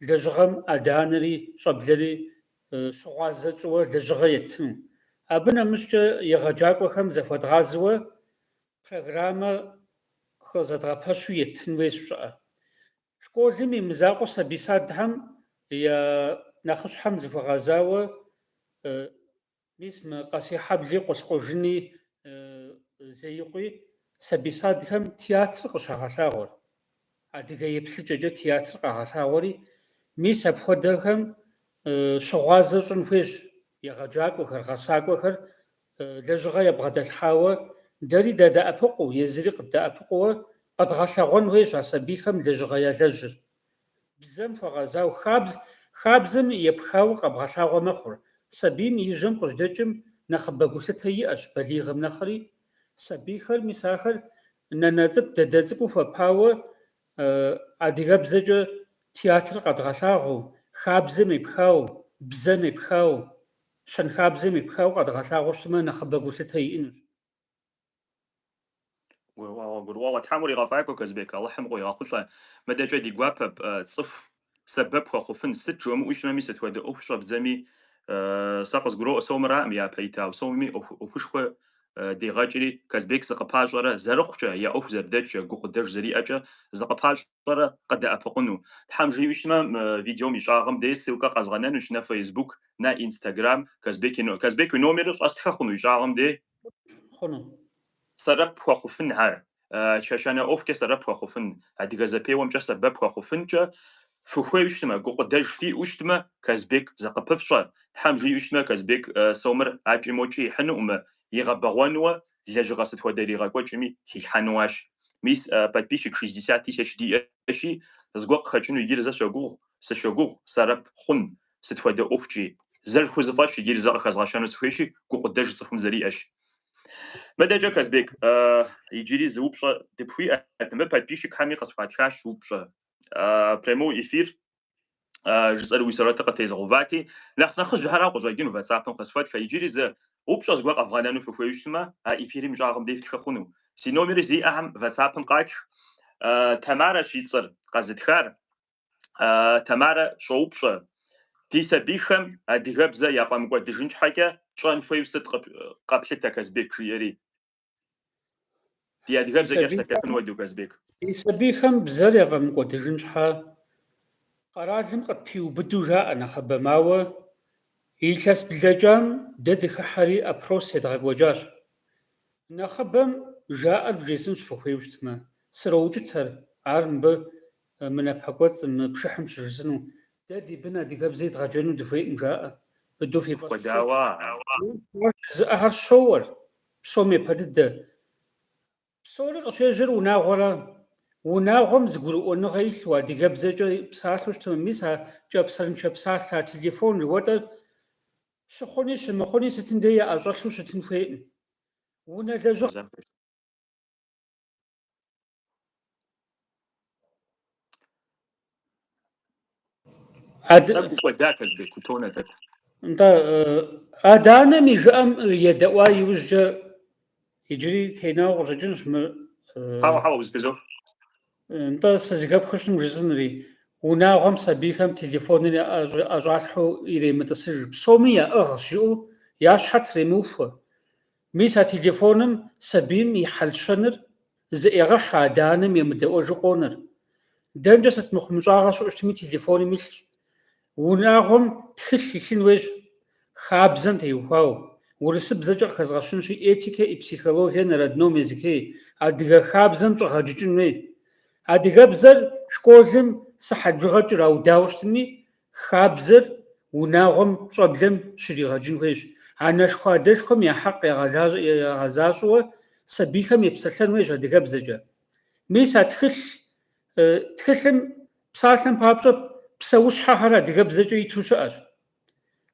Speaker 1: лэжьыгъэм адэ-анэри щӏэблэри щыгъуазэ тщӏыуэ лэжьыгъэ еттыну. Абы нэмыщӏкӏэ егъэджакӏуэхэм зыхуэдгъазэуэ программэ къызэдгъэпэщу еттын хуей щыӏэ. Школым и мызакъуэ сабий садхэм я нэхъыщхьэм зыхуэгъэзауэ Мис мы Къэсейхьэбли Къулъкъужыни Зеикъуи, сабий садхэм театр къыщагъэлъагъуэр, адыгэ еплъыкӏэкӏэ театр къагъэлъагъуэри, мис апхуэдэхэм щыгъуазэ щӏын хуейщ егъэджакӏуэхэр, гъэсакӏуэхэр лэжьыгъэ ебгъэдэлъхьауэ, дэри дадэӏэпыкъуу, езыри къыддэӏэпыкъууэ къэдгъэлъэгъуэн хуейщ а сабийхэм лэжьыгъэ ялэжьыр. Бзэм хуэгъэзауэ хабз хабзэм епхауэ къэбгъэлъагъуэ мэхъур. Сабийм и жьэм къыжьдэкӏым нэхъыбэ гулъытэ иӏэщ балигъым нэхъри. Сабийхэр, мис ахэр нанэ цӏыкӏу, дадэ цӏыкӏуу хуэпауэ адыгэбзэкӏэ театр къэдгъэлъагъуэу, хабзэм епхауэ, бзэм епхауэ, щэнхабзэм епхауэ къэдгъэлъагъуэу щытмэ нэхъыбэ гулъытэ иӏэнущ.
Speaker 2: Гурыӏуэгъуэ, гурыӏуэгъуэ. Тхьэм уригъэфӏакӏуэ, Казбек, Алыхьым къуигъэхъулӏэ. Мыдэкӏэ ди гуапэ цӏыху сэбэп хуэхъуфын. Сыт жумыӏэу щымэми, сыт хуэдэ ӏуэху щӏэбдзэми, сэ къызгуроӏуэ сомыраӏым япэ итауэ, сомми ӏуэхушхуэ дегъэкӏри, Казбек зыкъыпащӏэрэ, зэрыхъукӏэ, я ӏуэху зэрыдэкӏкӏэ, гукъыдэж зэриӏэкӏэ зыкъыпащӏэрэ къыдэӏэпыкъуну. Тхьэм жиӏэу щытмэ, мы видеом и щӏагъым дей ссылкэ къэзгъэнэнущ на фейсбук, на инстаграм. Казбек, Казбек уи номерыр щӏэстхэ хъуну и щӏагъым дей?
Speaker 1: хъуну.
Speaker 2: Сэрэп хуэхъуфын ар, чэщанэ ӏуэхукӏэ сэрэп хуэхъуфын, адыгэ зэпеуэмкӏэ сэбэп хуэхъуфынкӏэ фыхуеу щытмэ, гукъыдэж фиӏэу щытмэ, Казбек зыкъыпыфщӏэ, Тхьэм жиӏэу щытмэ, Казбек сомыр акӏи-мокӏи ихьынуӏымэ, игъэбэгъуэнуэ, лэжьыгъэ сыт хуэдэ иригъэкӏуэкӏми хилъхьэнуащ. Мис, подписчик шестьдесят тысяч диӏэщи, зыгуэр къыхэкӏыну иджыри зэ согугъу, сыщогугъ, сэрэп хъун, сыт хуэдэ ӏуэхукӏи. Зэрыхузэфӏэщ иджыри зэ къыхэзгъэщэну сыхуейщи, гукъыдэж цӏыхум зэриӏэщ. Мыдэкӏэ, Казбек, иджыри зы упщӏэ дыпхуиӏэт. Мыбы подписчикхэми къысхуатхащ упщӏэ. Прямой эфир жысӏэр уи сурэтыр къытезыгъэувати. Нэхъ нэхъыжьхэрауэ къыщӏэкӏыну ватсапым къысхуэтхэ. Иджыри зы упщӏэ зыгуэр къэвгъэнэну фыхуею щытмэ, а эфирым и щӏагъым деж фтхы хъуну. Си номери зиӏэхэм ватсапым къатх. Тамарэщ и цӏэр къэзытхар. Тамарэ щӏоупщӏэ, Ди сабийхэм адыгэбзэ яфӏэмыкӏуэдыжын щхьэкӏэ тщӏэн хуейуэ сыт къэплъытэ, Казбек? жиӏэри, Ди адыгэбзэкӏэ псэлъэфын хуэдэу, Казбек. Ди сабийхэм
Speaker 1: бзэр яфӏэмыкӏуэдыжын щхьэ, къэралым къытпиубыду жаӏэ нэхъыбэм, ауэ илъэс блэкӏам дэ дыхыхьэри опрос едгъэкӏуэкӏащ. Нэхъыбэм жаӏэр вжесӏынщ фыхуейуэ щытмэ, сроукӏытэр, ар мыбы Мы напэкӏуэцӏым, мы пшыхьым щыжысӏэну. Дэ ди бын адыгэбзэ идгъэджэну дыхуейкъым, жаӏэ. Быду фи фӏэщ фщӏы, жызыӏэхэр щоуэр, псом епэ дыдэ. Псори къыщежьэр унагъуэра. Унагъуэм зыгурыӏуэныгъэ илъу, адыгэбзэкӏэ псалъэу щытмэ, мис а кӏэпсэрыншэ псалъэ, а телефон жыхуэтӏэр щыхъуни щымыхъуни сытым деи яӏэщӏэлъу щытын хуейкъым. Унэ лэжьыгъэм. Адэ... Тӏэкӏу кӏуэда Казбек, утонэ тӏэкӏу. Нтӏэ, адэ-анэм и жыӏэм едэӏуа иужькӏэ иджыри тенауэ къыщӏэкӏынщ мы. Хьэуэ, хьэуэ, узэхызох. Нтӏэ, сызыхэпхыу щытмэ жысӏэнри, унагъуэм сабийхэм телефоныр ӏэщӏалъхьэу иремытӏысыж, псоми яӏыгъщ жыӏэу я щхьэр тремыухуэ. Мис а телефоным сабийм и хьэл-щэныр зыӏегъэхьэ адэ-анэм емыдэӏуэжу къонэр. Дэнкӏэ сыт мыхъумыщӏагъэ щыӏэу щытми телефоным илъщ. Унагъуэм тхылъ илъын уейщ, хабзэм теухуауэ, урысыбзэкӏэ къыхэзгъэщынщи этикэ и психология на родном языке, адыгэ хабзэм щӏэгъэджыкӏын хуей. Адыгэбзэр школым сыхьэт бжыгъэ кӏэраудауэ щытми, Хабзэр унагъуэм, щӏэблэм щригъэджын хуейщ. Анэшхуэ адэшхуэм я хьэкъ ягъэзащӏэуэ сабийхэм епсэлъэн хуейщ адыгэбзэкӏэ. Мис а тхылъ тхылъым псалъэм папщӏэ псэущхьэхэр адыгэбзэкӏэ иту щыӏэщ.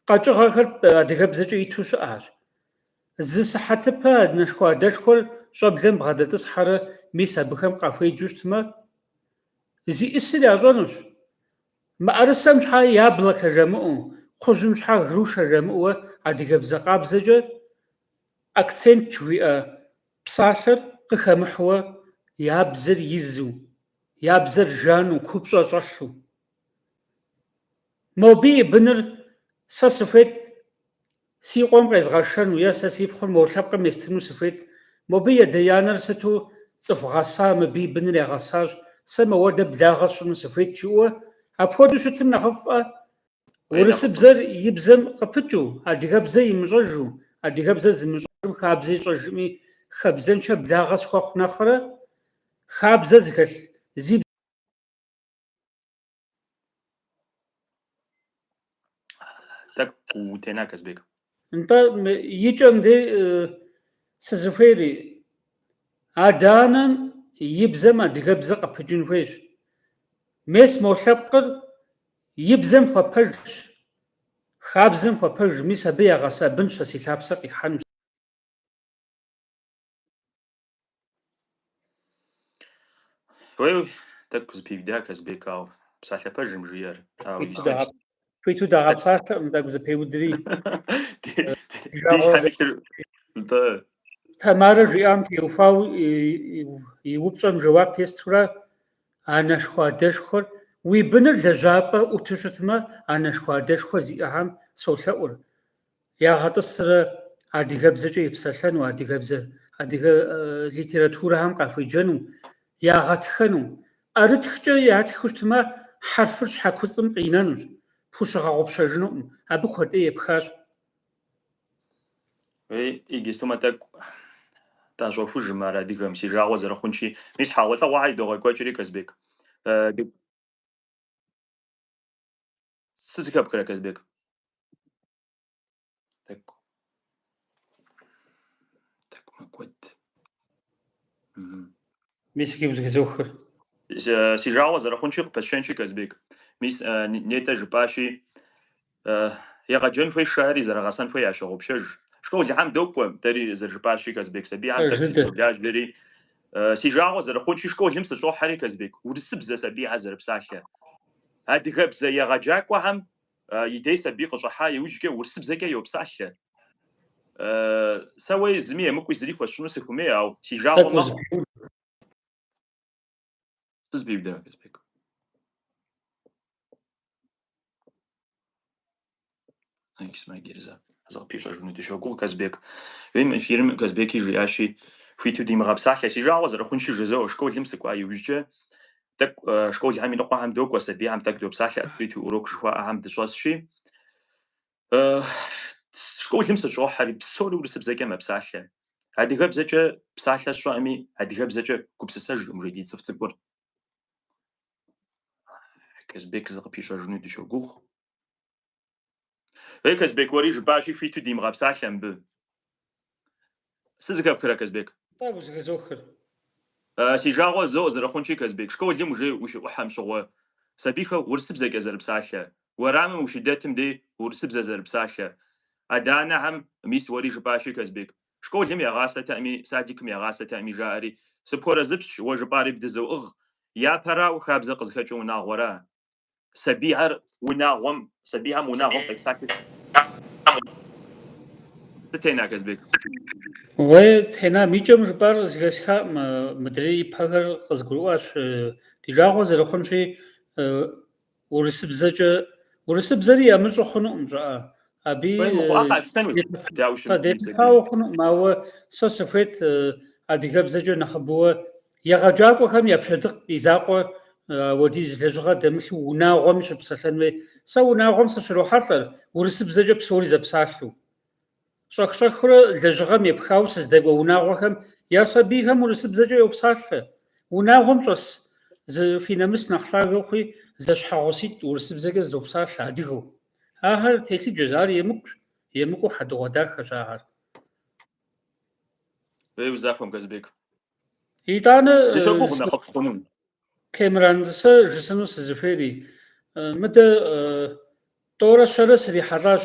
Speaker 1: Къэкӏыгъэхэр адыгэбзэкӏэ иту щыӏэщ. Зы сыхьэтыпэ анэшхуэ адэшхуэр щӏэблэм бгъэдэтӏысхьэрэ мис абыхэм къахуеджэу щытмэ, зиӏысыр ящӏэнущ. Мыӏэрысэм щхьэ яблокэ жэмыӏэу, кхъужьым щхьэ грушэ жэмыӏэуэ адыгэбзэ къабзэкӏэ акцент жыхуиӏэ псалъэр къыхэмыхьуэ я бзэр изу, я бзэр жану, купщӏэ щӏэлъу. Мобы и быныр сэ сыхуейт Си къуэм къезгъэшэну е сэ си пхъур мо лъэпкъым естыну сыхуейт. Мобы и адэ-анэр сыту цӏыху гъэса, мыбы и быныр ягъэсащ, сэ моуэдэ благъэ сщӏыну сыхуейт, жыӏэуэ. Апхуэдэу щытым нэхъыфӏэ, урысыбзэр и бзэм къыпыкӏыу, адыгэбзэ имыщӏэжу, адыгэбзэ зымыщӏэжым хабзэ ищӏэжми, хабзэнчэ благъэ схуэхъу нэхърэ, хабзэ зыхэлъ, зи бзэ.
Speaker 2: Тӏэкӏу утена, Казбек?
Speaker 1: Нтӏэ, икӏэм де сызыхуейри, адэ-анэм и бзэм адыгэбзэ къыпыкӏын хуейщ. Мес мо лъэпкъыр и бзэм хуэпэжщ, хабзэм хуэпэж, мис абы ягъэса бынщ, сэ си лъапсэр къихьэнущ.
Speaker 2: Уей, тӏэкӏу зэпиуда Казбек, ау псалъэ пэжым жиӏэр. Ау истэч. Хуиту
Speaker 1: дагъэпсалъэкъым тӏэкӏу зэпеудри. Тамарэ жиӏам теухуауэ и упщӏэм жэуап естурэ анэшхуэ адэшхуэр уи быныр лэжьапӏэ ӏуту щытмэ, анэшхуэ адэшхуэ зиӏэхьэм солъэӏур. ягъэтӏысрэ адыгэбзэкӏэ епсэлъэну, адыгэбзэ, адыгэ литературэхэм къахуеджэну, ягъэтхэну. ӏэрытхкӏэ ятхыу щытмэ, хьэрфыр щхьэкуцӏым къинэнущ, пхущыгъэгъупщэжынукъым. Абы куэд ӏей
Speaker 2: епхащ. Иджыстумэ тӏэкӏу тӏэщӏохужым ар адыгэм, си жагъуэ зэрыхъунщи. Мис хьэгъуэлӏыгъуэхэр едогъэкӏуэкӏри, Казбек. Сызыхэпхрэ, Казбек? Тӏэкӏу. Тӏэкӏу мэкӏуэд. Мгм.
Speaker 1: Мис гы узыхызохыр. Э, Си
Speaker 2: жагъуэ зэрыхъунщи къыпысщэнщи, Казбек. Мис э, Н- Нетӏэ жыпӏащи, э, егъэджэн хуейщ жаӏэри зэрыгъэсэн хуей ящогъупщэж. Школхьэм докӏуэ, дэри зэрыжыпӏащи, Казбек, сабийхьэм Э, тӏэкӏу жыдэ. дызэблажэри. Э, Си жагъуэ зэрыхъунщи, школым сыщӏохьэри, Казбек, урысыбзэ сабийхьэ зэрыпсалъэр. Адыгэбзэ егъэджакӏуэхэм и дей сабий къыщӏыхьа иужькӏэ урысыбзэкӏэ йопсалъэ. Сэ уэ зыми емыкӏуи зыри хуэсщӏыну сыхуэмей, ау си жагъуэ мэхъу. Сызэпиудамэ, Казбек. Зыкъыпищӏэжыну дыщогугъ, Казбек. Уейм эфирым Казбеки жиӏащи, Хуиту димыгъэпсалъэ. Си жагъуэ зэрыхъунщи, жызоӏэ. Школым сыкӏуа иужькӏэ тӏэкӏу школхэм иныкъуэхэм докӏуэ, сабийхэм тӏэкӏу допсалъэ, открытый урок жыхуаӏэхэм дыщӏэсщи. Школым сыщӏохьэри, псори урысыбзэкӏэ мэпсалъэ. Адыгэбзэкӏэ псалъэ сщӏэӏыми, адыгэбзэкӏэ гупсысэжӏым уже ди цӏыф цӏыкӏур. Казбек, зыкъыпищӏэжыну дыщогугъ. Ей, Казбек, уэри жыпӏащи, хуиту димыгъэпсалъэ мыбы. Сызыхэпхра, Казбек? Тӏэ, узыхэзохыр. Си жагъуэ зо зэрыхъунщи, Казбек, школым уже ущыӏухьэм щыгъуэ, сабийхэр урысыбзэкӏэ зэрыпсалъэ, уэрамым ущыдэтым дей урысыбзэ зэрыпсалъэ. Адэ-анэхьэм мис уэри жыпӏащи, Казбек, школым ягъасэтэӏыми, садикым ягъасэтэӏыми жаӏэри, сыпхуэрэзыпсщ, уэ жыпӏари бдызоӏыгъ. Япэрауэ, хабзэ къызыхэкӏыр унагъуэра. сабийхэр унагъуэм, сабийхэм унагъуэм къесахи.
Speaker 1: Сытена, Казбек? Уэ тенам икӏэм жыпӏар зыхэсхаӏым, мыдрей ипэхэр къызгурыӏуащ. Ди жагъуэ зэрыхъунщи, урысыбзэкӏэ, урысыбзэри ямыщӏу хъунукъым щӏыӏэ.
Speaker 2: Абы Хуей мыхъуа къалъытэнущ Даущым и къэдехьэу псалъэжьым.
Speaker 1: хъунукъым, ауэ сэ сыхуейт э, адыгэбзэкӏэ нэхъыбэуэ егъэджакӏуэхэм я пщэдыкъ, и закъуэ э, апхуэдиз лэжьыгъэ дэмылъу унагъуэми щыпсэлъэн хуей. Сэ унагъуэм сыщрохьэлӏэр, урысыбзэкӏэ псори зэпсалъэу. Щӏэх-щӏэхыурэ лэжьыгъэм епхауэ сыздэкӏуэ унагъуэхэм я сабийхэм урысыбзэкӏэ йопсалъэ. Унагъуэм щӏэс зы фи нэмыс нэхъ лъагэ ухъуи, зэщхьэгъуситӏ урысыбзэкӏэ зыдопсалъэ адыгэу. Ахэр телъыджэщ, ар емыкӏущ, емыкӏуу хьэдэгъуэдахэщ
Speaker 2: ахэр. Ей узахуэм, Казбек. Итӏанэ
Speaker 1: дыщогугъ нэхъыфӏ
Speaker 2: хъунум.
Speaker 1: Кэмран, сэ жысӏэну сызыхуейри, мыдэ тӏорэ щэрэ срихьэлӏащ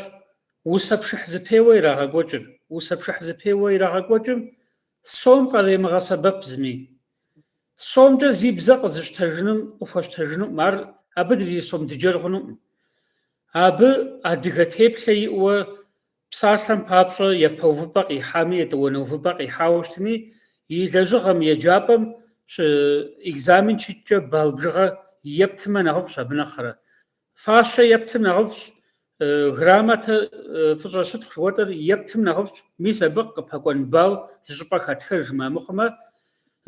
Speaker 1: усэ пшыхь зэпеуэ ирагъэкӏуэкӏыр. Усэ пшыхь зэпеуэ ирагъэкӏуэкӏым Сом къаремыгъэсэбэп зыми. Сомкӏэ зи бзэ къызыщтэжыным къыхуэщтэжынукъым, ар абы дэри сом дыджэр хъунукъым. Абы адыгэ теплъэ иӏэуэ псалъэм папщӏэ япэ увыпӏэ къихьами, етӏуанэ увыпӏэ къихьауэ щытми, и лэжьыгъэм, еджапӏэм щӏы экзамен щыткӏэ балл бжыгъэ ептымэ нэхъыфӏщ, абы нэхърэ. Фащэ ептым нэхъыфӏщ, грамотэ фӏыщӏэ щытхъу жыхуэтӏэр ептым нэхъыфӏщ, мис абы къыпэкӏуэн балл зы щӏыпӏэ хатхэжмэ мыхъумэ,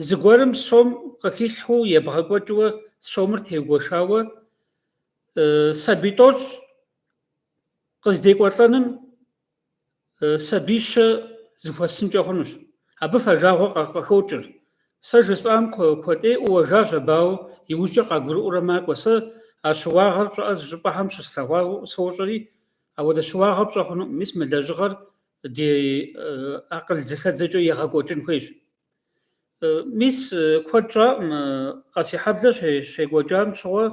Speaker 1: зыгуэрым сом къыхилъхьэу ебгъэкӏуэкӏыу сомыр теугуэшауэ сабий тӏощӏ къыздекӏуэлӏэным. сабийщэ зыхуэсынкӏэ хъунущ. Абы фэжагъуэ къыхокӏыр. Сэ жысӏам куэдӏеӏуу уэжащ абауэ иужькӏэ къагурыӏуурэ макӏуэ. Сэ а щыуагъэр щӏыпӏэ зыщӏыпӏэхэм щыслъэгъуауэ сощӏэри, ауэдэ щыуагъэ пщӏэ хъунуӏым. Мис мы лэжьыгъэр ди акъыл зэхэдзэкӏэ егъэкӏуэкӏын хуейщ. Мис куэд щӏаӏым, Къэсейхьэблэ щекӏуэкӏам щыгъуэ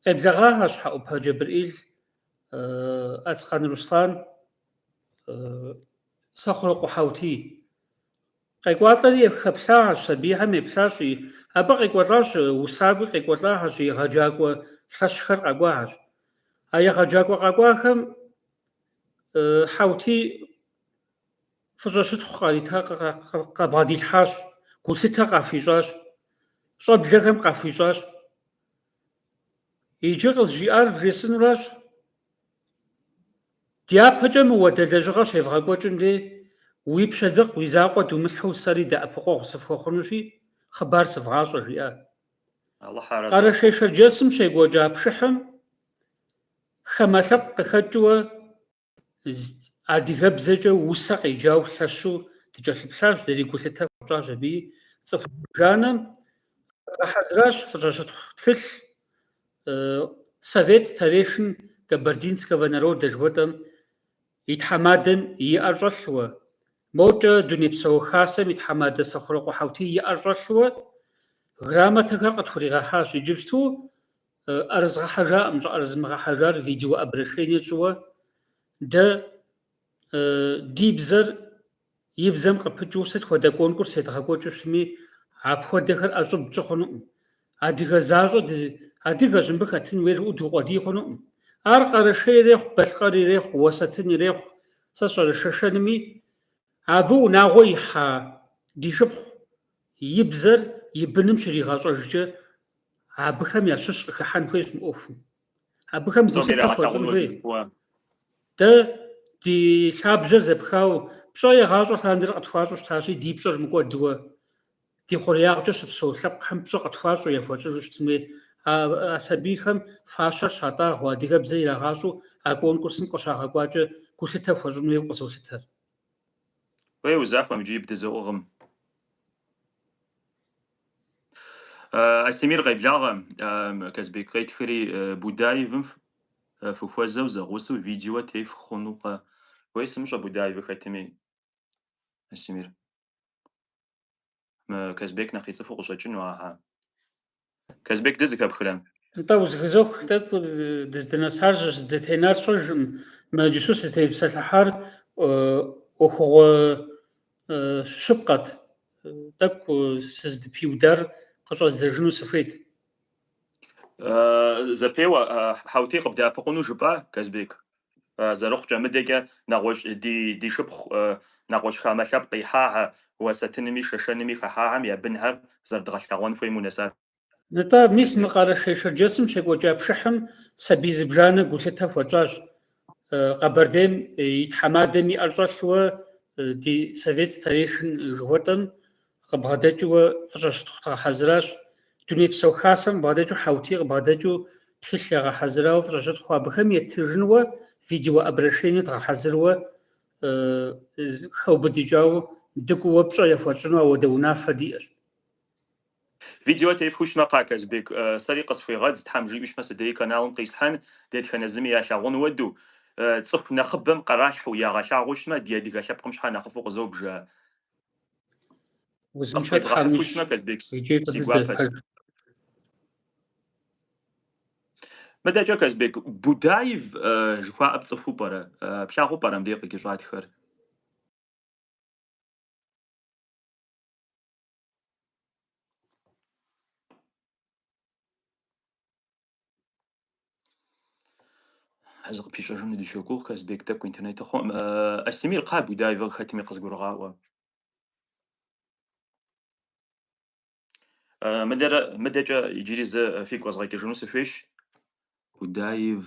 Speaker 1: къеблэгъащ Хьэӏупэ Джэбрэӏил Ацкъан Руслан, Сэхъурокъуэ Хьэутий. Къекӏуалӏэри хэплъахэщ, сабийхэм еплъащ, абы къекӏуэлӏащ, усакӏуи къекӏуэлӏахэщ, егъэджакӏуэ лъэщхэр къэкӏуахэщ. А егъэджакӏуэ къэкӏуахэм Хьэутий фӏыщӏэ щытхъу къэбгъэдилъхьащ, гулъытэ къахуищӏащ, щӏэблэхэм къахуищӏащ. Иджы къызжиӏар вжесӏэнуращ. Дяпэкӏэ мыуэдэ лэжьыгъэр щевгъэкӏуэкӏым дей, уи пщэдыкъ, уи закъуэ думылъхьэу сэри дэӏэпыкъуэгъу сыфхуэхъунущи, хъыбар сывгъащӏэ, жиӏэ. Къэрэшей-Шэрджэсым щекӏуэкӏа пшыхьым хамэ лъэпкъ къыхэкӏыуэ. адыгэбзэкӏэ усэ къеджауэ лъэщу дыкӏэлъыплъащ, дэри гулъытэ хуэтщӏащ абыи. Цӏыху бжанэм къагъэхьэзыращ фӏыщӏэщытхъу тхылъ Совет старейшин Кабардинского народа жыхуэтӏэм и тхьэмадэм и ӏэр щӏэлъуэ, мокӏэ Дунейпсо Хасэм и тхьэмадэ Сэхъурокъуэ Хьэутий и ӏэр щӏэлъуэ грамотэхэр къытхуригъэхьащ. Иджыпсту ӏэрызгъэхьэжаӏым, щӏыӏэрызмыгъэхьэжар видео обращение тщӏыуэ, дэ ди бзэр и бзэм къыпыкӏыу сыт хуэдэ конкурс едгъэкӏуэкӏыу щытми, апхуэдэхэр ӏэщӏыб пщӏы хъунуӏым. Адыгэ защӏэ адыгэщ, мыбы хэтын хуейр жыпӏэу дукъуэдий хъунуӏым. Ар Къэрэшей ирехъу, Балъкъэр ирехъу, Уэсэтын ирехъу, сэ сщӏэрэ шэшэнми, абы унагъуэ ихьа ди шыпхъу и бзэр и быным щригъэщӏэжкӏэ Абыхэм ящыщ къыхыхьэн хуейщ мы ӏуэхум. Абыхэм гулъытэ хуэщӏын хуей. Дэ ди лъабжьэр зэпхауэ пщӏэ егъащӏэ лъандэрэ къытхуащӏу щытащи, ди пщӏэр мыкӏуэдуэ ди хъуреягъкӏэ щыпсэу лъэпкъхэм пщӏэ къытхуащӏу яхуэтщӏыжу щытын хуей. А сабийхэм фащэр щатӏагъуэ, адыгэбзэ ирагъащӏэу а конкурсым къыщагъэкӏуакӏэ гулъытэ хуэщӏын хуейуэ къызолъытэр.
Speaker 2: Уей узахуэм иджыри бдызоӏыгъым. Астемир къеблагъэ Казбек къетхэри Будаевым фыхуэзэу зэгъусэу видео теф хъунукъэ. Уей сымыщӏэ Будаевы хэтми Астемир. Казбек нэхъ ицӏыхуу къыщӏэкӏыну ахьэ. Казбек дызыхэпхрэ? Нтӏэ
Speaker 1: узыхызох тӏэкӏу дыздынэсар здытенар сщӏэжым. Мы иджысу сызытепсэлъыхьар ӏуэхугъуэ Щыпкъэт, тӏэкӏу сыздыпиудар къыщӏэздзэжыну
Speaker 2: сыхуейт. Зэпеуэ, Хьэутей къыбдэӏэпыкъуну жыпӏа, Казбек? Зэрыхъукӏэ, мыдэкӏэ нэгъуэщӏ ди шыпхъу нэгъуэщӏ хамэ лъэпкъ ихьахьэ, уэсэтынми шэшэнми хэхьахьэм я бынхэр зэрыдгъэлъэгъуэн хуейм унэсат. Нтӏэ,
Speaker 1: мис мы Къэрэшей-Шэрджэсым щекӏуэкӏа пшыхьым сабий зыбжанэ гулъытэ хуэтщӏащ. Къэбэрдейм и тхьэмадэм и ӏэр щӏэлъууэ ди совет старейшин жыхуэтӏэм къыбгъэдэкӏыуэ фӏыщӏэ щытхъу дгъэхьэзыращ. Дунейпсо Хасэм къыбгъэдэкӏыу Хьэутий къыбгъэдэкӏыу тхылъ ягъэхьэзырауэ фӏыщӏэ щытхъу абыхэм етыжынуэ видеообращение дгъэхьэзыруэ хэубыдыкӏауэ дыкӏууэ пщӏэ яхуэтщӏыну ауэдэ унафэ диӏэщ.
Speaker 2: Видео тефхущмэ кхъа Казбек, сэри къысхуегъэдз, Тхьэм жиӏущмэ си дей каналым къислъхьэн, дэтхэнэ зыми ялъагъун уэдэу. Цӏыху нэхъыбэм къыралъхьэу ягъэлъагъущмэ, ди адыгэ лъэпкъым щхьэ нэхъыфӏу къызобжа? Узыншэ Тхьэм уищӏ. Къысхуебгъэхьыфущмэ Казбек, иджыри си гуапэщ. Мыдэкӏэ Казбек, Будаев жыхуаӏэ пцӏыхуу пӏэрэ? Плъагъуу пӏэрэ мыбдеж къыкӏэщӏатхэр? Зыкъыпищӏэжыну дыщогугъ, Казбек тӏэкӏу интернетыр хъуӏым. Астемир кхъа Будаевыр хэтми къызгурыгъаӏуэ. Мыдэрэ мыдэкӏэ иджыри зэ фигу къэзгъэкӏыжыну сыхуейщ. Будаев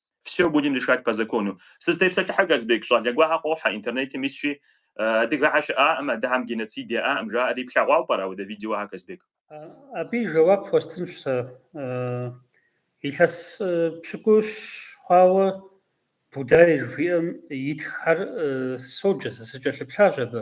Speaker 2: Всё будем решать по закону. Сызытепсэлъыхьэ, Казбек, щӏалэ гуэрхьэ къохьэ, интернетым исщи, адыгэхьэ щыӏаӏым, адыгэхьэм геноцид яӏаӏым жаӏэри, плъэгъуауэ пӏэрэ ауэдэ видеохьэ, Казбек? Абы и жэуап
Speaker 1: хуэстынщ сэ. Илъэс пщыкӏущ хъуауэ Будай жиӏэм итххэр соджэ сэ, сыкӏэлъыплъащ абы.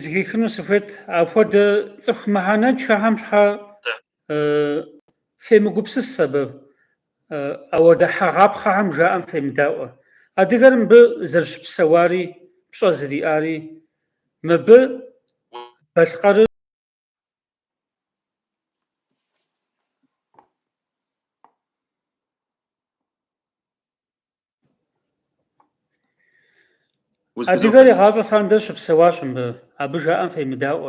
Speaker 1: зыхихыну сыхуейт, апхуэдэ цӏыху мыхьэнэншэхьэм щхьэ фемыгупсыс абы, ауэдэ хьэгъапхъэхьэм жаӏэм фемыдаӏуэ. Адыгэр мыбы зэрыщыпсэуари пщӏэ зэриӏари, мыбы балъкъэрыр Адыгэр игъащӏэ лъандэрэ щыпсэуащ мыбы, абы жаӏэм фемыдаӏуэ.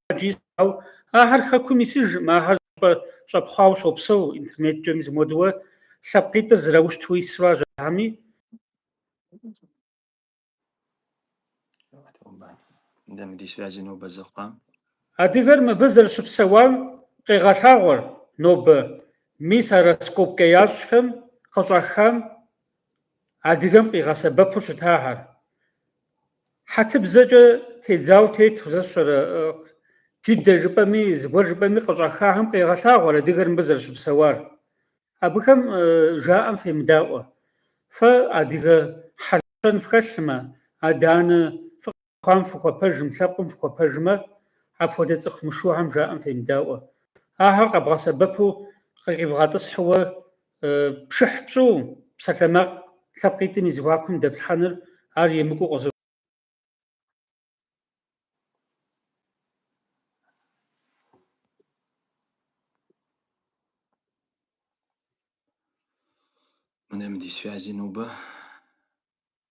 Speaker 1: Хьэджи щӏэу, ахэр хэкум исыжым, ахэр щӏэ щӏэпхъуауэ щопсэу, интернеткӏэми зымодуэ лъэпкъитӏыр зэраущту ису ар жаӏэми, Адыгэр мыбы зэрыщыпсэуам къегъэлъагъуэр нобэ, мис а раскопкэ ящӏхэм къыщӏахам адыгэм къигъэсэбэпу щытахэр. Хьэтыбзэкӏэ тедзауэ тету, сэ сщӏэрэ, джыдэ жыпӏэми, зыгуэр жыпӏэми къыщӏахахэм къегъэлъагъуэр адыгэр мыбы зэрыщыпсэуар. Абыхэм жаӏэм фемыдаӏуэ. Фэ адыгэ хьэл-щэн фхэлъмэ, адэ-анэ фыкъалъхуам фыхуэпэжым, лъэпкъым фыхуэпэжмэ, апхуэдэ цӏыху мышухэм жаӏэм фемыдаӏуэ. Ахэр къэбгъэсэбэпу къы къибгъэтӏысхьууэ Пшыхь пщӏу псалъэмакъ лъэпкъитӏым и зэхуакум дэплъхьэныр ар емыкӏуу къызо.
Speaker 2: Мынэм ди связи нобэ.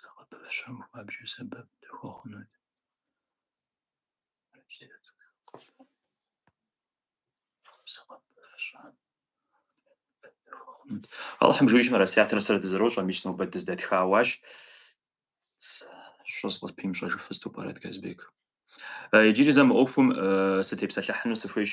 Speaker 2: зыгъэпэщэм хуабжьу сэбэп дыхуэхъунут. Алыхьым жиӏэмэ. Расиятрэ сэрэ дызэрощӏэ, мис нобэ дыздэтхауащ. Щӏыс къыспимщӏэжыф сыту пӏэрэт Казбек. Иджыри зэ мы ӏуэхум сытепсэлъыхьыну сыхуейщ.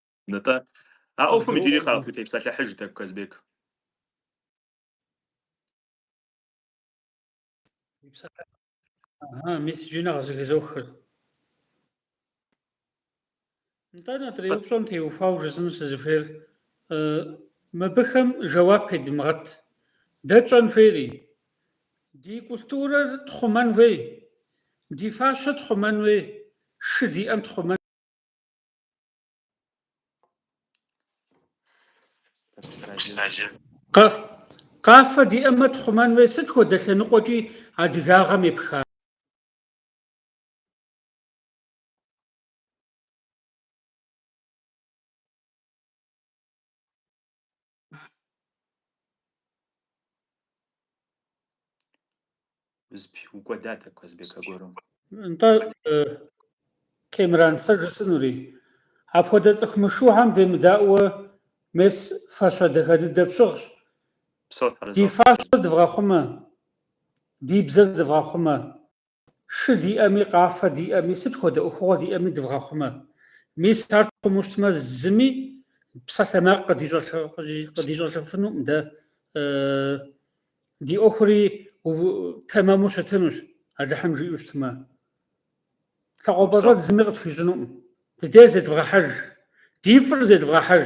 Speaker 2: Нтӏэ. А ӏуэхум иджыри къытхутепсэлъыхьыж тӏэкӏу,
Speaker 1: Казбек. Ага, мис иджы нэхъ зыхызохыр. Нтӏэ, нетӏэрей упщӏэм теухуауэ жысӏэну сызыхуейр, мыбыхэм жэуап едымыгъэт. Дэ тщӏэн хуейри? Ди культурэр тхъумэн хуей, ди фащэ тхъумэн хуей, шы диӏэм тхъумэн. Къафэ диӏэмэ тхъумэн хуей, сыт хуэдэ лъэныкъуэкӏи адыгагъэм епха?
Speaker 2: укӏуэдат, Казбек, аргуэру. Нтӏэ,
Speaker 1: Кемран, сэ жысӏынури. Апхуэдэ цӏыху мышыухэм демыдаӏуэ мес фащэ дахэ дыдэ пщыгъщ. Упсэу, Тхьэр арэзы. Ди фащэр дывгъэхъумэ, ди бзэр дывгъэхъумэ. Шы диӏэми, къафэ диӏэми, сыт хуэдэ ӏуэхугъуэ диӏэми дывгъэхъумэ. Мис ар тхъуму щытмэ, зыми псалъэмакъ къыдищӏэлъыфынукъым дэ. Ди ӏуэхури тэмэму щытынущ, Алыхьым жиӏэу щытмэ. Лъакъуэпэщӏэдз зыми къытхуищӏынукъым. Дыдейр зедвгъэхьэж, ди фӏыр зедвгъэхьэж.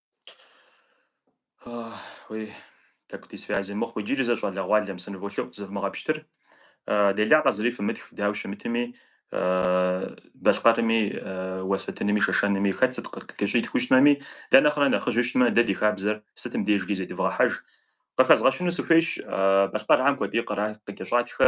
Speaker 2: Уи тӏэкӏу ди связи мыхъу иджыри зэ щӏалэгъуалэм сыныволъэӏу зывмыгъэпщтыр. Делагъэ зыри фымытх, дауи щымытми, Балъкъэрми, Уэсэтынми, Шэшэнми хэт сыт къыщӏитхыу щытмэми, дэ нэхърэ нэхъыжьу щытмэ, дэ ди хабзэр сытым дежкӏи зедывгъэхьэж. Къыхэзгъэщыну сыхуейщ, Балъкъэрхэм куэди къра къыкӏэщӏатхэ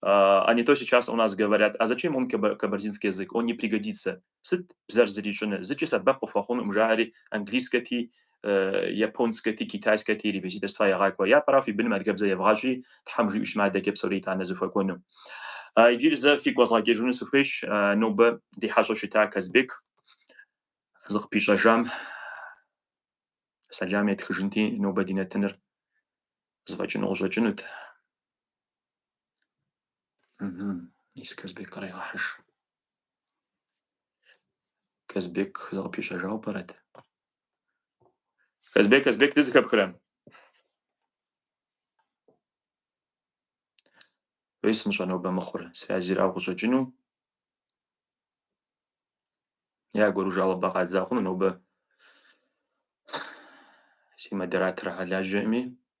Speaker 2: А не то сейчас у нас говорят, а зачем он кабардинский язык, он не пригодится. Сыт бзэр зэрищӏынур, зыкӏи сэбэп къыхуэхъунукъым, жаӏэри английскэти, японскэти, китайскэти репетиторства ягъакӏуэ. Япэрауэ фи быным адыгэбзэ евгъащӏи, Тхьэм жиӏэу щытмэ, адэкӏэ псори итӏанэ зыхуэкӏуэну. Иджыри зэ фигу къэзгъэкӏыжыну сыхуейщ нобэ ди хьэщӏэу щыта Казбек зыкъыпищӏэжам сэлам етхыжынти, нобэ ди нэтыныр зэфӏэкӏыну къыщӏэкӏынут. Мис Казбек кърегъэхьыж. Казбек зыкъыпищӏэжауэ пӏэрэт? Казбек, Казбек, дызыхэпхрэм? Уей сымыщӏэ нобэ мыхъур, связырауэ къыщӏэкӏыну. Аргуэру жалобэ къадза хъуну нобэ си модераторхэр лажьэкъыми.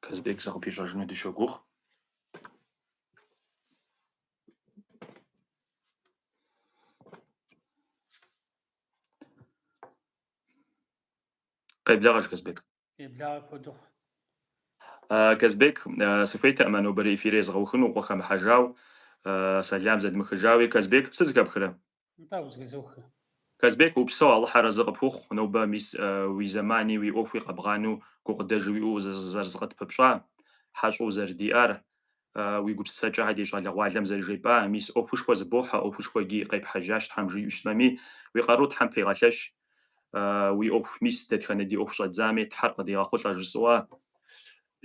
Speaker 2: Казбек зыкъыпищӏэжыну дыщогугъ. Къеблагъэж Казбек.
Speaker 1: Къеблагъэ куэд
Speaker 2: ухъу. Казбек, сыхуейтэкъым а нобэрей эфир езгъэухыну, укъыхэмыхьэжау, сэлам зэдмыхыжауи. Казбек, сыт зыхэпхрэ?
Speaker 1: Нтӏэ, узыхызох. Казбек,
Speaker 2: упсэу Алыхьыр арэзы къыпхухъу, нобэ мис уи зэмани уи ӏуэхуи къэбгъанэу гукъыдэж уиӏэу узэрызкъытпыпщӏар, хьэщӏэу узэрыдиӏар, уи гупсысэкӏэхэр ди щӏалэгъуалэм зэрыжепӏа, мис ӏуэхушхуэ зыбохьэ, ӏуэхушхуэ иджы къепхьэжащ Тхьэм жиӏэу щытмэми, уи къару Тхьэм пегъэлъэщ, уи ӏуэху мис дэтхэнэ ди ӏуэху щӏэдзами Тхьэр къыдигъэхъулӏэ жысӏэуэ,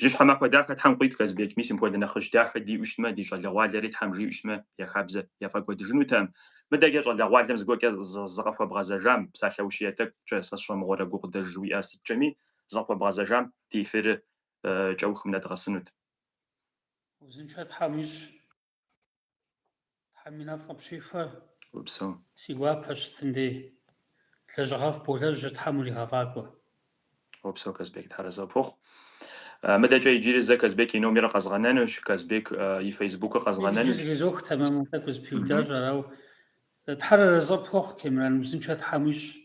Speaker 2: Жьыщхьэ махуэ дахэ Тхьэм къуит Казбек, мис мыпхуэдэ нэхъыжь дахэ диӏэу щытмэ, ди щӏалэгъуалэри Тхьэм жиӏэу щытмэ, я хабзэ яфӏэкӏуэдыжынутэм. Мыдэкӏэ щӏалэгъуалэм зыгуэркӏэ зыкъыхуэбгъэзэжам, псалъэущие тӏэкӏукӏэ сэ сщӏэмыгъуэрэ гукъыдэж уиӏэ сыткӏэми, зыкъыхуэбгъэзэжам ди эфирыр кӏэухым нэдгъэсынут. Узыншэ
Speaker 1: Тхьэм уищӏ. Тхьэм и нэфӏ къыпщихуэ.
Speaker 2: Упсэу. Си
Speaker 1: гуапэщ Тындей. Лэжьыгъэфӏ болэжьыр Тхьэм уригъэфӏакӏуэ.
Speaker 2: Упсэу, Казбек. Тхьэр арэзы пхухъу. Мыдэкӏэ иджыри зэ Казбек и номерыр къэзгъэнэнущ, Казбек и фейсбукыр мис иджы къэзгъэнэнущ. Зыхызох
Speaker 1: тэмэму, тӏэкӏу зыпиудащ, арауэ. Тхьэр арэзы пхухъу, Кемран, узыншэ Тхьэм уищӏ.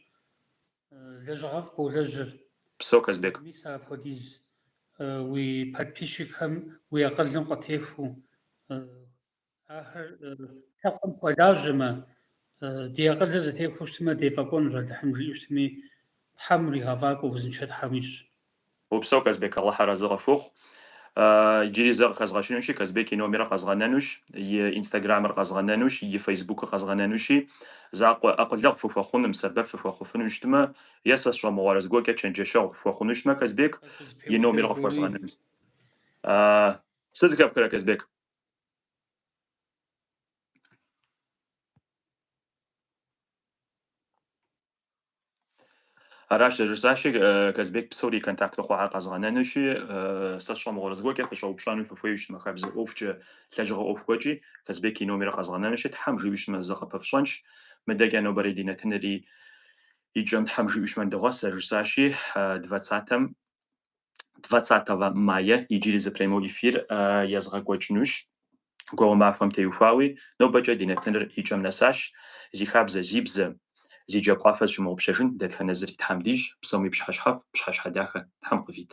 Speaker 1: Лэжьыгъэфӏ болэжьыр. Упсэу,
Speaker 2: Казбек. Мис
Speaker 1: апхуэдиз уи подписчикхэм уи акъылым къытехуэу, ахэр лъэпкъым хуэлажьэмэ, ди акъылыр зэтехуэу щытмэ, дефӏэкӏуэнущ Алыхьым жиӏэу щытми, Тхьэм уригъэфӏакӏуэ узыншэ Тхьэм уищӏ. Упсэу
Speaker 2: Казбек Алыхь арэзы къыпхухъу. Иджыри зэ къыхэзгъэщынущи, Казбек и номерыр къэзгъэнэнущ, и инстаграмыр къэзгъэнэнущ, и фейсбукыр къэзгъэнэнущи, закъуэ акъылэгъу фыхуэхъунум, сэбэп фыхуэхъуфыну щытмэ, е сэ сщӏэмыгъуэрэ зыгуэркӏэ чэнджэщэгъу фыхуэхъуну щытмэ, Казбек и номерыр къыфхуэзгъэнэнущ. Сыт зыхэпхрэ, Казбек? Аращ зэрыжысӏащи, Казбек псори и контакту хъуар къэзгъэнэнущи, сэ сщӏэмыгъуэрэ зыгуэркӏэ фыщӏэупщӏэну фыхуейуэ щытмэ хабзэ ӏуэхукӏэ, лэжьыгъэ ӏуэху гуэркӏи. Казбек и номерыр къэзгъэнэнущи, Тхьэм жиӏущмэ, зыкъыпыфщӏэнщ. Мыдэкӏэ нобэрей ди нэтынри и кӏэм Тхьэм жиӏущмэ ныдогъэс, зэрыжысӏащи, двадцатэм. 20 мая иджыри зы прямой эфир езгъэкӏуэкӏынущ. Гуауэ махуэм теухуауи, нобэкӏэ ди нэтыныр и кӏэм нэсащ. Зи хабзэ, зи бзэ, зи джабгъуафэ зыщымыгъупщэжын дэтхэнэ зыри Тхьэм дищӏ, псоми пщхьэщхьэфӏ, пщхьэщхьэ дахэ Тхьэм къывит.